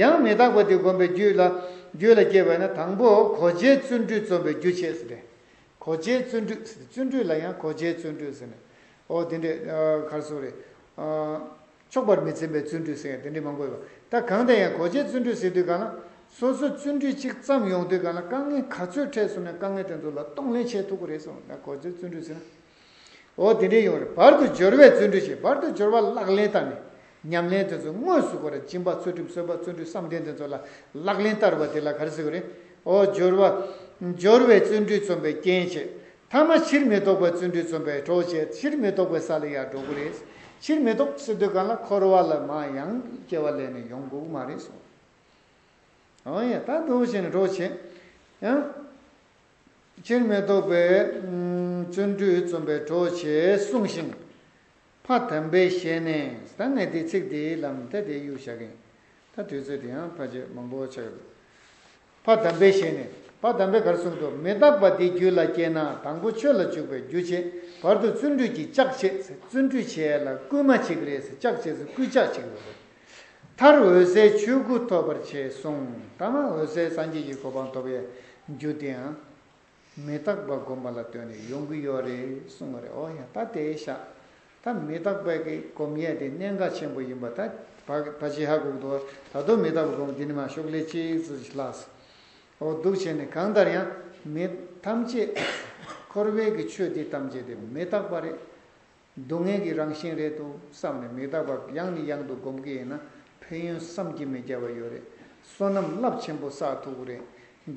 ཡང་མི་རྟག་པ་དེ་བསྒོམ་པའི་རྒྱུད་ལ་སྐྱེས་པས་ན་དང་པོ་གོ་ཆའི་བརྩོན་འགྲུས་རྩོམ་པའི་རྒྱུ་བྱས་ཟེར་ཏེ། གོ་ཆའི་བརྩོན་འགྲུས་བརྩོན་འགྲུས་ལ་ཡང་གོ་ཆའི་བརྩོན་འགྲུས་ཟེར་ནས་འོ་དེ་འདྲའི་གར་སོང་རེད། ཆོག་པར་མི་འཚེམ་པའི་བརྩོན་འགྲུས་ཟེར་ཡང་དེ་འདྲའི་མང་པོ་ཡོད། ད་གང་དེ་ཡང་གོ་ཆའི་བརྩོན་འགྲུས་ཟེར་དུས་གང་ན་སོ་སོ་བརྩོན་འགྲུས་གཅིག་བརྩམས་ཡོང་དུས་གང་ན་དཀའ་ངལ་ག་ཚོད་འཕྲད་སོང་ནས་དཀའ་ངལ་དེ་ཚོ་ལ་གཏོང་ལེན་བྱེད་ཐུབ་ཀྱི་རེད་སོང་ད་གོ་ཆའི་བརྩོན་འགྲུས་ཟེར་ན་འོ་དེ་འདྲའི་ཡོང་རེད་བར་དུ་སྦྱོར་བའི་བརྩོན་འགྲུས་བྱེད་བར་དུ་སྦྱོར་བ་ལག་ལེན་བསྟར་ནས་ཉམས་ལེན་དེ་ཚོ་དངོས་སུ་གོ་རེ་སྦྱིན་པ་ཚུལ་ཁྲིམས་གསོལ་བ་བརྩོན་འགྲུས་བསམ་གཏན་དེ་ཚོ་ལ་ལག་ལེན་བསྟར་བ་དེ་ལ་ག་རེ་ཟེར་གྱི་རེད་འོ་སྦྱོར་བ་སྦྱོར་བའི་བརྩོན་འགྲུས་རྩོམ་པའི་རྐྱེན་བྱེད་མཐའ་མ་ཕྱིར་མི་ལྡོག་པའི་བརྩོན་འགྲུས་རྩོམ་པའི་གྲོགས་བྱས་ཕྱིར་མི་ལྡོག་པའི་ས་ལ་ཡར་འགྲོ་གི་རེད། ཕྱིར་མི་ལྡོག་སྲིད་དུས་གང་ལ་འཁོར་བ་ལ་མ་ཡང་སྐྱེ་བ་ལས་ནི་ཡོང་དགོས་ཀྱི་མ་རེད་སོ། འོན་ཡང་ད་འདུག་བཞིན་ནས་གྲོགས་བྱས་ཡང། ཕྱིར་མི་ལྡོག་པའི་བརྩོན་འགྲུས་རྩོམ་པའི་གྲོགས་བྱས་གསུངས་ཤིང། ཕ་དམ་པའི་ཞལ་ནས་ཟླ་ལྔའི་དུས་ཚིགས་དེའི་ལམ་མཐའ་དེའི་གཡུལ་བཞག་གིན། ད་དུས་ཚོད་དེའང་ཕ་ཆོས་མང་པོ་ཆགས་ཡོད་དགོས། ཕ་དམ་པའི་ཞལ་ནས་ཕ་དམ་པས་གར་གསུངས་དུ་མི་རྟག་པ་འདི་རྒྱུད་ལ་སྐྱེས་ན་དང་པོ་ཆོས་ལ་འཇུག་པའི་རྒྱུ་བྱེད་བར་དུ་བརྩོན་འགྲུས་ཀྱིས་ལྕགས་བྱས་ཚེ་བརྩོན་འགྲུས་བྱས་ལ་བསྐུལ་མ་བྱེད་ཀྱི་རེད་ཟེར་ལྕགས་བྱས་ཚེ་བསྐུལ་ལྕགས་བྱེད་ཀྱི་རེད། མཐར་འོད་གསལ་ཆོས་སྐུ་ཐོབ་པར་བྱས་གསུངས། ད་མ་འོད་གསལ་སངས་རྒྱས་ཀྱི་གོ་འཕང་ཐོབ་ཡའི་རྒྱུ་དེའང། མི་རྟག་པ་བསྒོམ་པ་ལ་ལྟོས་ནས་ཡོང་གི་ཡོད་རེད་གསུང་བ་རེད་ཨོ་ཡ་ད་དེ་ཤ་ད་མི་རྟག་པའི་གི་སྒོམ་ཡས་དེ་གནད་འགག་ཆེན་པོ་ཡིན་པ་ད་བ་ཇི་ཧ་གུག་འདུག་ད་དོ་མི་རྟག་པ་སྒོམ་དེ་ནི་མ་ཤོག་ལས་ཅི་ཟེར་ཞིག་ལགས་སོ་ཨོ་སྡུག་བྱས་ནས་གང་ལྟར་ཡང་མི་ཐམས་ཅད་འཁོར་བའི་གི་ཆོས་དེ་ཐམས་ཅད་དེ་མི་རྟག་པ་རེད་སྡུག་བསྔལ་གྱི་རང་བཞིན་རེད་འདུག་བསམ་ནས་མི་རྟག་པར་གཡང་ནི་གཡང་དུ་སྒོམ་གི་ཡིན་ན་ཕན་ཡོན་བསམ་གྱི་མེད་རྒྱལ་བ་ཡོད་རེད་བསོད་ནམས་རླབས་ཆེན་པོ་བསགས་ཐུག་གི་རེད་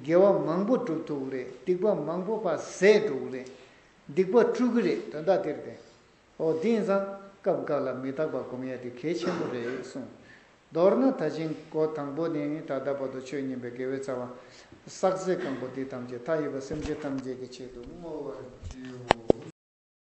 དགེ་བ་མང་པོ་བསྒྲུབས་ཐུག་གི་རེད་སྡིག་པ་མང་པོ་པ་ཟད་འགྲོ་གི་རེད་སྡིག་པ་བཀྲུ་གི་རེད་དོན་དག་དེར་བསྟན་འོ་དེ་ཡིན་ཙང་སྐབས་འགའ་ལ་མི་རྟག་པར་སྒོམ་ཡ་དེ་གལ་ཆེན་པོ་རེད་གསུངས། མདོར་ན་ད་ཕྱིན་གོ་དང་པོ་ནི་ད་ལྟ་བར་དུ་ཆོས་ཉན་པའི་དགེ་བའི་རྩ་བ། བསགས་ཚད་གང་པོ་དེ་ཐམས་ཅད་མཐའ་ཡས་པ་སེམས་ཅན་ཐམས་ཅད་ཀྱི་ཆེད་དུ་བསྔོ་བར་བགྱིའོ།